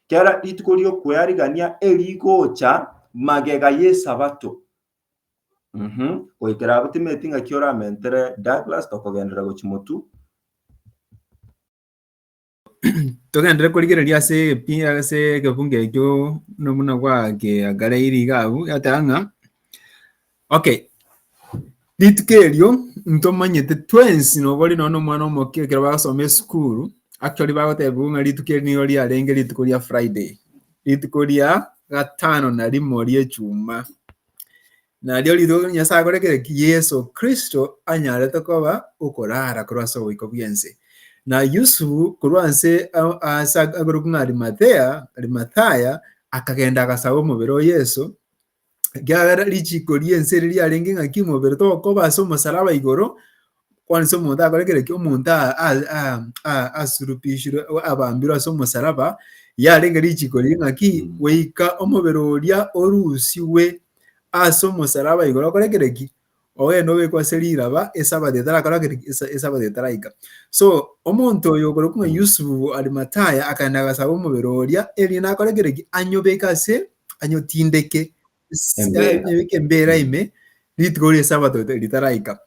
kera rituko ri'okwearigania erigocha magega y'esabato. Mhm. Goikera abwo timanyeti ng'aki oramentere Douglas, tokogenderera gochia Motu. togenderere korigereria ase epi ase egebunga ekio nomuna gwa kiagare iriga abu yateba ng'a Okay. Rituko erio ntomanyete twensi nobori nono omwana omokia ekero bagasoma esukuru actually bagotebigwa ng'a rituko eri nigo riarenge rituko ria Friday rituko ria gatano na rimo ri'echuma nario rituko Nyasaye akorekire ki Yeso Kristo anyarete koba okorara korwa ase oboiko bw'ense na Yusufu korwa nse ase agorokwa ng'a Arimathea Arimathaya akagenda agasaba omobere o Yeso Ekiagera richiiko ri'ense ere riarenge ng'aki omobere togokoba ase omosalaba igoro, bono ase omonto akore kera ki, omonto a- a- a- a- asulubishirwe, abambirwe ase omosalaba, yarenge richiiko riria ng'aki goika omobere oria orusigwe ase omosalaba igoro okore kera ki, Oboyene obekwe ase riraba esabato etarakora gete ki? Esa- Esabato etaraika. So, omonto oyo okorokwa ng'a Yusufu o Arimataya akaenda agasaba omobere oria erinde akore gete ki? Anyobeke ase, anyotindeke ase- Embera. anyobeke embera ime rituko ri'esabato rita- ritaraika.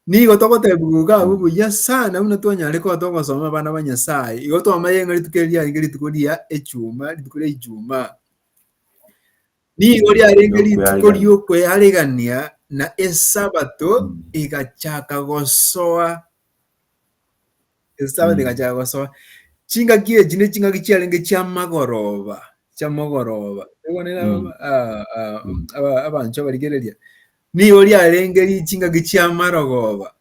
Nigo togotebiwa iga abwo buya sana buna twanyare koba togosoma abana ba Nyasae, igo twamanye ng'a rituko eri riarenge rituko ria echuma, rituko ria Ijumaa. Nigo riarenge Nyasae rituko aregania. ri'okwearegania, na Esabato Mm. egachaka gosoa. Esabato Mm. egachaka gosoa. Chingaki echi ne chingaki chiarenge chi'amagoroba, chi'amogoroba. Ekwanera Mm. aba- ah, ah, Mm. aba- abanchwa barigereria. Nigo riarenge ri- chingaki chi'amarogoba,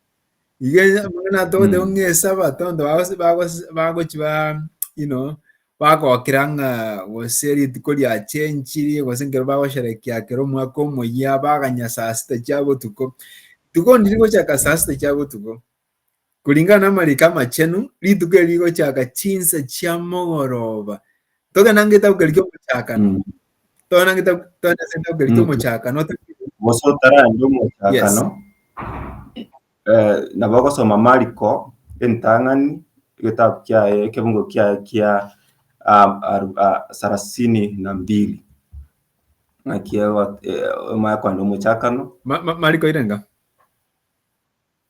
Iga amang'ana atogoteba Mm. ng'a esabato abanto bagose- bagose- bagochi ba you know, bagokira ng'a gose rituko riachenchiri gose nkero bagosherekea kero omwaka omoyia baganya saa sita chia botuko. Rituko ndiri gochaka saa sita chia botuko. Kuringana na amariko amachenu, rituko eri rigochaka chinsa chia mogoroba. Togende ng'itabu keria kiomochakano. Mm. Tona ngita tona senta okeri Mm. tomochaka no gose otarande omochakano eh, nabo ogosoma mariko entang'ani egetabu kiaye ekebungo kiaye kia ah, aru- ah, sarasini na mbili ng'aki ego- eh, omanye kwanda omochakano ma, ma, mariko irenga.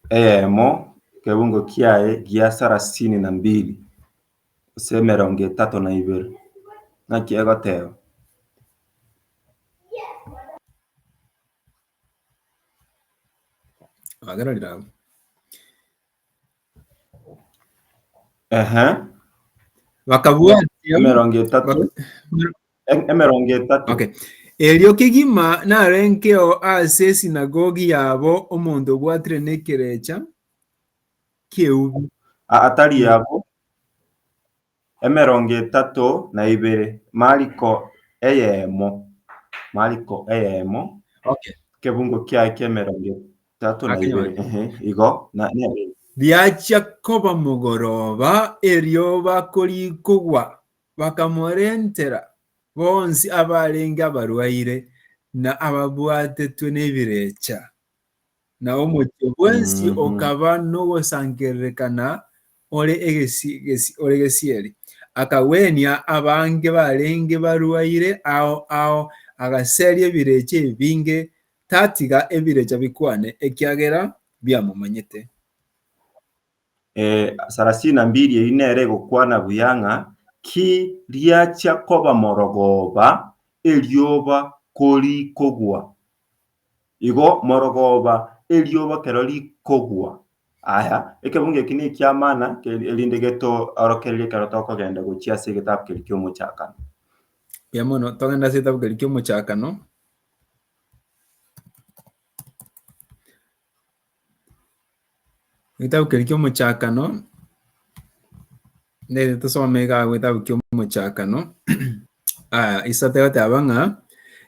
eyemo ekebungo kiaye gia sarasini na mbili Gose emerongo etato na ibere. Naki egoteba. Agera rira abwo. Ehe. Bakabwatia. Emerongo etato. bak- Em- Emerongo etato. Okay. Erio kegima narengeo ase esinagogi yabo omonto obwatire nekerecha ki'eubi, atari abo emerongo etato na ibere, mariko eyemo, mariko eyemo, Okay. kebungo kiaye ki'emerongo etato na Akenyora. ibere, ehe, igo, na, na, Riachia koba mogoroba, erio bakorikogwa, bakamorentera bonsi abarenge abarwaire, na ababwatetwe nebirecha. Na omochie bwensi okaba nogosangererekana ore gesieri. Akagwenia abange barenge barwaire ao ao, agaseria ebirecha ebinge, tatiga ebirecha bikwane, ekiagera biamomanyete. Sarasini na mbiri eyio nere egokwana buya ng'a, Ki riachia koba morogooba, erioba korikogwa? Igo morogoba erioba kero rikogwa. Aya, ekebungo eki nekia maana erinde getoorokererie ekero tokogenda gochia ase egetabu keria ki'Omochakano. Mbuya mono, togende ase egetabu keria ki'Omochakano. Egetabu keria ki'Omochakano, nigo tosome iga agwo egetabu ki'Omochakano, isato egoteba ng'a,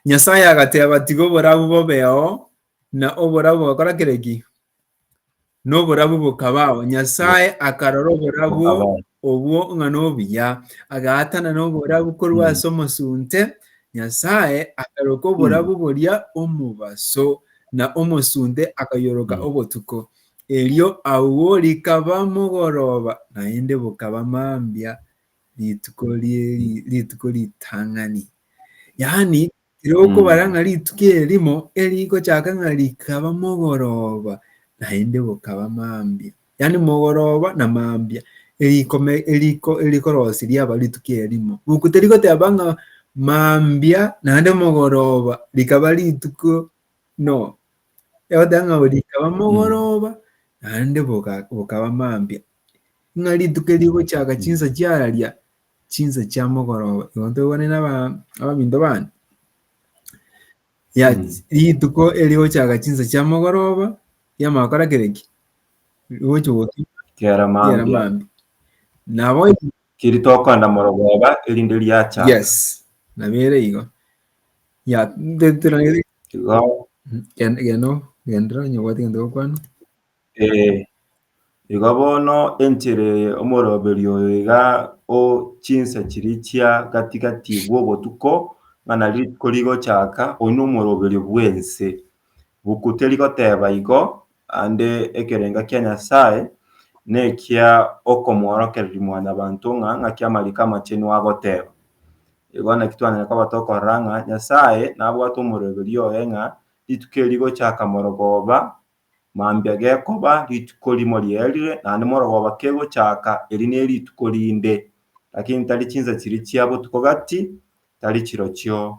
Nyasae agateba, Tiga oborabu bobeao, na oborabu bogakora kere ki? Na oborabu bokabaao. Nyasae akarora oborabu Obwo ng'a nobuya, agaatana noborabu korwa ase omosunte, Nyasae akaroka oborabu boria omobaso, na omosunte akayoroka obotuko. Erio agwo rikaba mogoroba, naende bokaba mambia rituko ritang'ani. Yaani, Tirokobara ng'a rituko erimo erigochaka ng'a rikaba mogoroba, naende bokaba mambia, yaani mogoroba na mambia, erikome eriko erikorosi riaba rituko erimo. Boku terigoteba ng'a mambia naende mogoroba rikaba rituko, no. Egoteba ng'a rikaba mogoroba naende boka bokaba mambia. Ng'a rituko erigochaka chinsa chiararia, chinsa chia mogoroba igo ntobwane na abaminto bane ya rituko eri gochaka chinsa chia mogoroba yamara gokora kereki gochi goki Kera mambia. mambi nabo Keri tokoenda morogoba erinde riacha. yes nabere igo ya Igo geno genda onye obwate egento gokwana. Ee, igo bono enchera eye omoroberio oyo iga o chinsa chiria chia gati-gati bw'obotuko, ng'a nari rituko rigochaka, oyio nomoroberio bw'ense. Buku teri goteba igo, ande ekerenga kia Nyasaye nekia okomoorokereria Mwanyabanto ng'a ng'aki amariko amachenu agoteba. Igo naki twanyare koba tokorora ng'a Nyasaye nabwate omoroberio oye ng'a rituko eri rigochaka morogoba Mambia gekoba rituko rimo ri'erire, naende morogoba kegochaaka, eri nerituko rinde, lakini tari chinsa chiria chia botuko gati, tari chirochio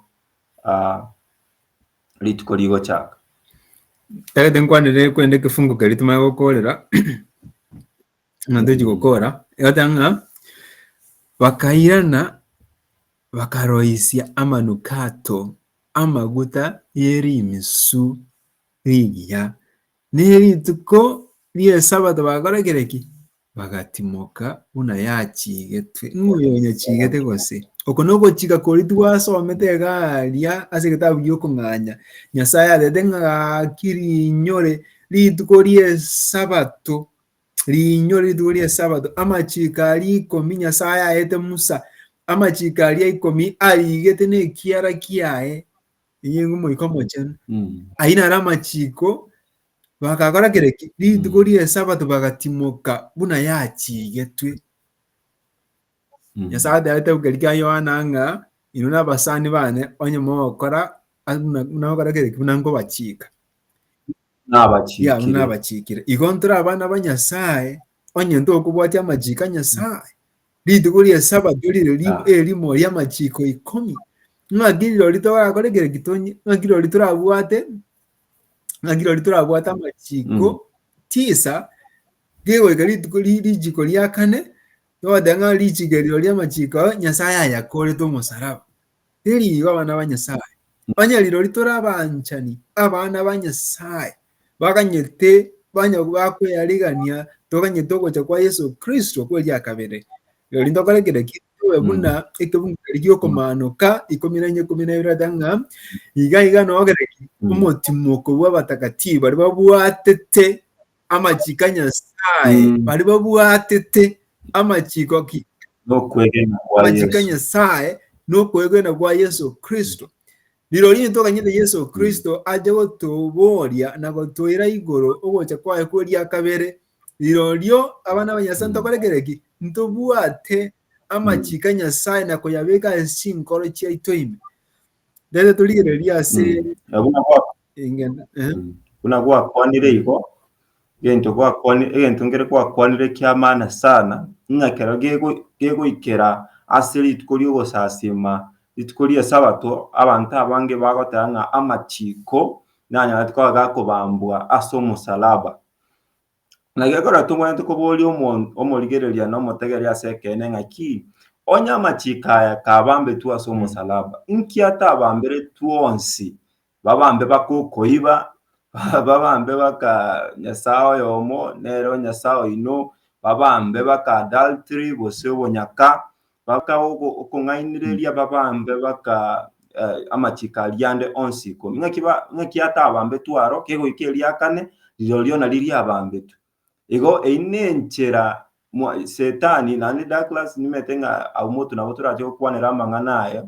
rituko rigochaaka. Ekero tinkwanire korende ekefungo keria timanye gokoorera ng'a tochi gokoora, egoteba ng'a bakairana bakaroisia amanukato amaguta y'erimisu. Rigiya, nerituko ri'esabato bagakora kere ki? Bagatimoka buna yachigetwe. Ng'a oyo onyachigete gose? Oko nogochika kori twasomete egaria ase egetabu gi'okong'anya. Nyasaye atete ng'a gaki rinyore rituko ri'esabato, rinyore rituko ri'esabato, amachiko aria ikomi Nyasaye aete Musa, amachiko aria ikomi arigete nekiara kiaye Inye ngomoika omochenu. Ayio naro amachiko bagakora kere ki? Rituko ri'esabato bagatimoka buna yachigetwe. Nyasae ateba getabu keria kia Yohana ng'a inwe nabasani bane onye mogokora buna buna mogokora kere ki buna nkobachika. Nabachikire. Yao nabachikire. Igo ntore abana ba Nyasae, onye ntokobwatia amachiko a Nyasae. Rituko ria Sabato rire ah. erimo ria amachiko ikomi. Ng'aki rori torakore kere gitonyi, ng'aki rori torabwate, ng'aki rori torabwate amachiko mm. tisa gegoika rituko rijiko ria kane togoteba ng'a rijiko riro ria amachiko Nyasae ayakorete omosaraba. Teri igo abana ba Nyasae. Onye rirori tore abanchani, abana ba Nyasae, baganyete banya bakweyarigania toganyete ogocha kwa Yeso Kristo kwe ria kabere. Rirori ntokore kera ki tobe buna ekebungeri giokomanoka ikomi na ikomi na ibere ata ng'a iga iga nogere ki omotimoko bw'abatakatifu baria babwatete amachiko a Nyasae, Mm. baria babwatete amachiko ki? Nokwegena kwa Amachiko a Yesu. Nyasae nokwegwena kwa Yesu Kristo. Rirorio ntoganyete Yesu Kristo ache gotoboria na gotoira igoro ogocha kwaye kweria kabere. Rirorio abana ba Nyasae Mm. ntokorekere ki? Ntobwate amachiko a Nyasae na koyabeka ase chinkoro chiaito ime. Rero torigereria ase Mm. Nabo nabo Ing'ende. Eh. Buna gwakwanire igo, egento gwakwani egento nkere gwakwanire ki'amana sana, ng'a kero gego gegoikera ase rituko ri'ogosasima, rituko ri'esabato, abanto abange bagoteba ng'a amachiko nanyorete koba gakobambwa ase omosalaba. Na gekogera tobwenerete koboria omonto omorigereria na omotegeria ase ekeene ng'aki, onye amachiko aya kabambetwe ase omosalaba, inki atabamberetwe onsi Babambe bakokoiba, babambe baka nyasae oyomo nere onyasae oino, babambe baka adultery gose obonyaka, baka ogo- okong'ainereria, babambe baka eh, amachiko aria ande onsi ikomi. Ng'aki ba- ng'aki atabambetwe aro, kegoika eriakane, rirorio nari riabambetwe. Igo eyio nenchera mwa Setani naende Douglas nimete ng'a abwo motu nabo torache gokwanera amang'ana aye,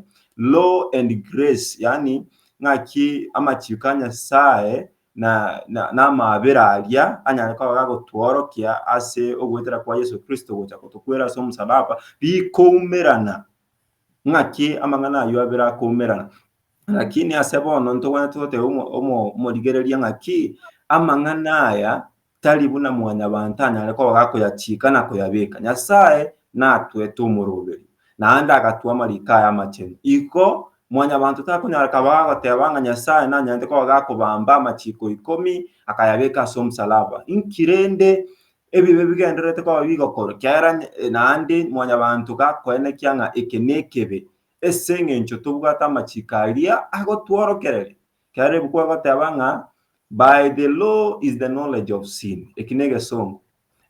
law and grace, yaani ng'aki amachiiko a Nyasaye na na namabera aria anyare koba gagotworokia ase ogoetera kwa Yeso Kristo gocha gotokwera ase omosalaba, bikoumerana. Ng'aki amang'ana ayio abere akoumerana. Lakini ase bono ntogwenerete gotebia omo- omo- omorigereria ng'a ki, amang'ana aya tari buna mwanyabanto anyare koba gakoyachiika na koyabeeka. Nyasae natwete omoroberi, naende agatwa amariko aya amachenu. Igo mwanyabanto takonyara koba agoteba ng'a Nyasae nanyarete koba gakobamba amachiiko ikomi akayabeeka ase omosalaba. Inki rende ebibe bigendererete koba bigokorwa? Ekiagera naende mwanyabanto gakoenekia ng'a eke nekebe, ase engencho tobwate amachiko aria agotworokereria. Ekiagera ebuku egoteba ng'a by the law is the knowledge of sin, eki ne egesongo.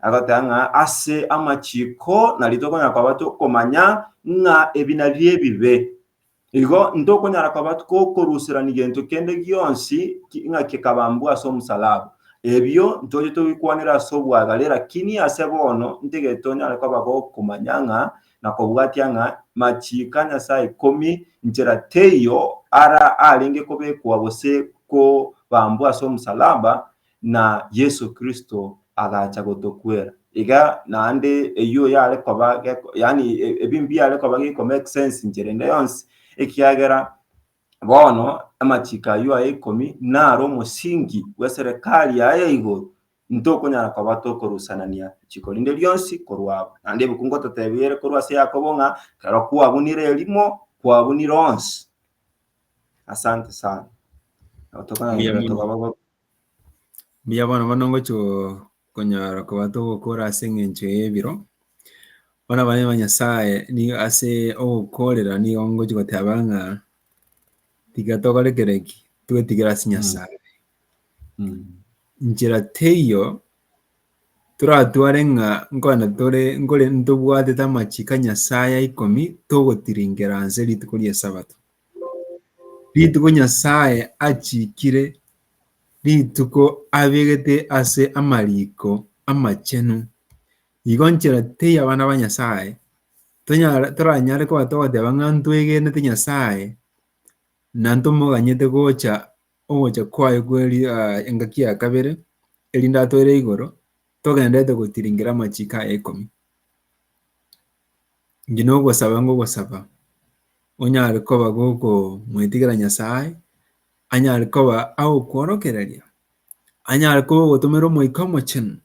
Agoteba ng'a ase amachiko nario tokonyara koba tokomanya ng'a ebi nabio ebibe. Igo ntokonyara koba gokoruserani gento kende gionsi ki- ng'a kekabambwa ase omosalaba. Ebio ntoche tobikwanere ase obwagare, lakini ase bono ntigete onyare koba gokomanya ng'a na kobwatia ng'a machiiko a Nyasae ikomi nchera teiyo ara arenge kobekwa gose kobambwa ase omosalaba, na Yeso Kristo agacha gotokwera. Iga naende eyio yare koba geko, yaani ebi mbiare koba geko make sense nchera ende yonsi, ekiagera bono amachiiko ayio aye ikomi naro omosingi bw'eserekari yaye ya igoro, Intokonyara koba tokorusanania riko rinde rionsi korwa abo. Naende ebuku ngototeebia ere korwa ase Yakobo ng'a ekero kwabunire erimo, kwabunire onsi. Asante sana. Nabo tokonyara Mbuya gochia mono. tokaba ba- Mbuya bono bono ngochi go- konyara koba togokora ase eng'encho y'ebiro. Bono abana ba Nyasaye nigo ase ogokorera nigo ngochi goteba ng'a tiga tokore kere ki, twetigere ase Nyasaye. Mm. Inchera teiyo toratware ng'a nkogenda tore nkore ntobwatete amachiko a Nyasae ya ikomi togotiringera nse rituko ri'Esabato. Rituko Nyasae achikire rituko abegete ase amariko amachenu. Igo nchera teiyo abana ba Nyasae tonyare toranyare koba togoteba ng'a ntwegenete Nyasae na ntomoganyete gocha ogocha kwaye kwe engaki ya kabere, erinde atoire igoro, togenderete gotiringera amachiko aya ikomi. Inki nogosaba ngogosaba onyare koba gokomoetigera Nyasaye, anyare koba agokworokereria, anyare koba ogotomera Omoika Omochenu,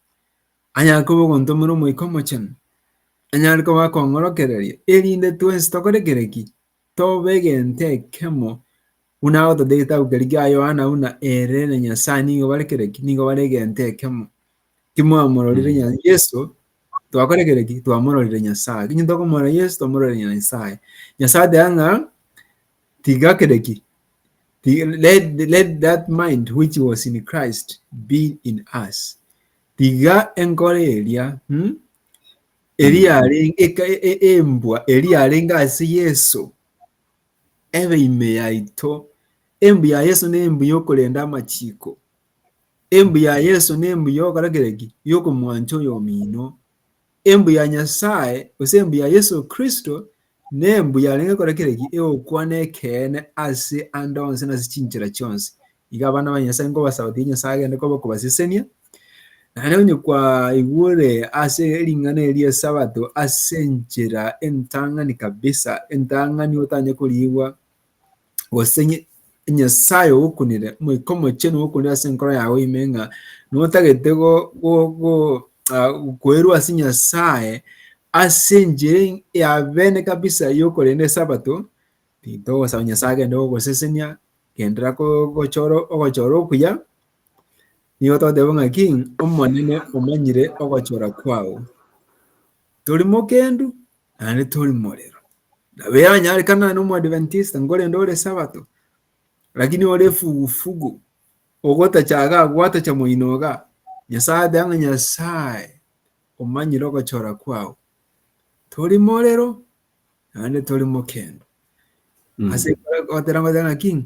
anyare koba ogontomera Omoika Omochenu, anyare koba akong'orokereria, erinde twensi tokore kere ki? Tobe egento ekemo, buna agotata egetabu keria kia Yohana buna ere na Nyasae nigo bare kere ki? Nigo bare egento ekemo. Timwamororire Mm. Nya- Yesu, twakore kere ki? Twamororire Nyasae. Eki tokomorora Yesu, twamororire Nyasae. Nyasae ateba ng'a, tiga kere ki? Ti- let, let that mind which was in Christ be in us. Tiga enkoro eria, mm, Eria yarenge eka e- e- embwa eria yarenge ase Yeso ebe ime yaito. Embu ya Yeso na embu yokorenda amachiko. Embu ya Yeso na embu yokora kereki yokomwancha oyomino. Embu ya Nyasaye gose embu ya Yeso Kristo Nembu yarenge kore kera eki egokwana ekeene ase ande onsi na ase chinchera chionsi. Iga abana ba Nyasae nkobasaba tiga Nyasae agende koba okobasesenia, naende onye kwaigure ase ring'ana eri ri'Esabato ase enchera entang'ani kabisa, entang'ani otanye koriigwa, gose Nyasae ogokunire, Omoika Omochenu ogokunire ase enkoro yago ime ng'a notagete koerwa ase Nyasae ase enchera ya bene kabisa yokorenda Esabato, titogosaba Nyasae agende gogosesenia, genderera gochora ogochora okuya, nigo togoteba ng'aki, Omonene omanyire ogochora kwao. Tori mokendu, Naende tori morero. Nabe yanyarekana nane omoadventista nkorende ore sabato. Lakini ore fugufugu. Ogotachaga gwatacha moinoga. Nyasaye ateba ng'a Nyasaye omanyire ogochora kwao. Tori morero naende tori mokendo. Ase gotera ngoteba ng'a ki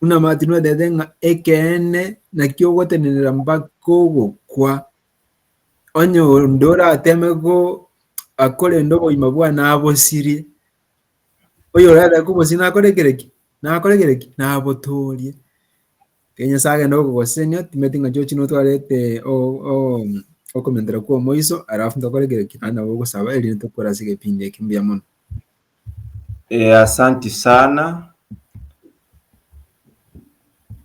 Buna Martin oetete ng'a ekeene nakio ogotenenera mpaka ogokwa, onye onde orateeme goa korenda obogima bwaye nabosirie, oyo orateeme kobosiria nakore kere ki? Nakore kere ki? Nabotoorie. Ekero Nyasae agenda gokogosesenia timanyeti ng'a chirochio notwarete o- o- okomentera kwa omoiso alafu ntokore kere ki? Naende nabo ogosaba erinde tokwera ase egepindi eke. Mbuya mono. Eh, asanti sana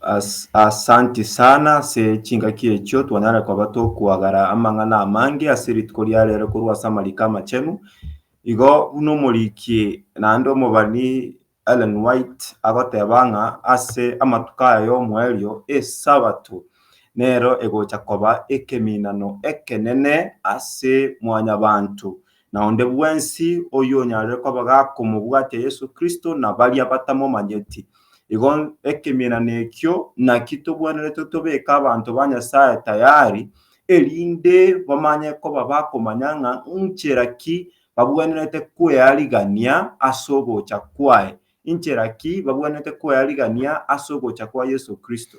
As, asanti sana ase chingaki echio twanyare koba tokwagara amang'ana amange ase rituko ria rero korwa ase amariko amachenu igo buna omoriki naende omobani Ellen White agoteba ng'a ase amatuko aya y'omoerio, Esabato nero egocha koba ekeminano ekenene ase mwanyabanto na onde bwensi oyonyarire koba gakomobwatia Yeso Kristo na baria batamomanyeti. Igo ekeminano ekio naki tobwenerete tobeke abanto ba Nyasae tayari, erinde bamanye koba bakomanya ng'a nchera ki babwenerete kwearigania ase ogocha kwaye. Inchera ki babwenerete kwearigania ase ogocha kwa Yeso Kristo?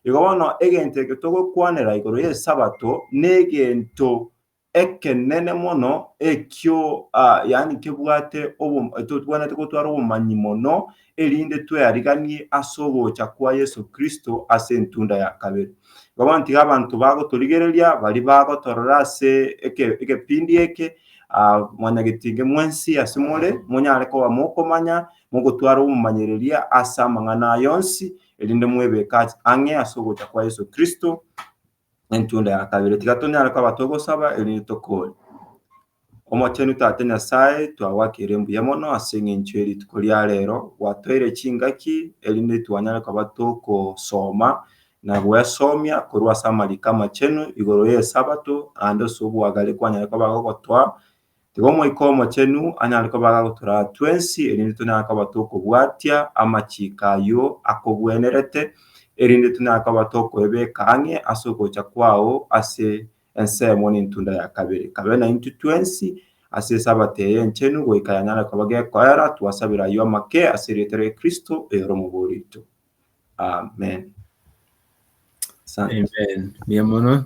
Igo bono egento eke togokwanera igoro y'Esabato negento ekenene mono ekio, ah, yaani kebwate obo- totwenerete gotwara obomanyi mono erinde tweariganie ase ogocha kwa Yeso Kristo ase entunda ya kabere. Bono tiga abanto bagotorigereria baria bagotorora ase egepindi eke, mwanyagetinge mwensi ase more, monyare koba mokomanya, mogotwara obomomanyereria ase amang'ana aya onsi, erinde mwebeke ang'e ase ogocha kwa Yeso Kristo, Entunda ya kabere, tiga tonyare koba togosaba erinde tokore. Omochenu Tata Nyasae, twagwakire mbuya mono ase eng'encho ye rituko ria rero, gwatoire chingaki erinde twanyare koba tokosoma na gwesomia korwa ase amariko amachenu igoro y'Esabato, naende ase obwagare kwanyare koba gogotoa Tiga Omoika Omochenu anyare kobaga gotoraa twensi, erinde tonyare koba tokobwatia amachiko ayio akogwenerete, erinde tonyare koba tokoebeka ang'e ase ogocha kwao ase ensemo n'entunda ya kabere. Kabe naintwe twensi ase Esabato eye enchenu, goika yanyare koba gekoera, twasabera ayio amake ase erieta ria Kristo oyore omobori oito. Amen. Asante. Amen. Mbuya mono.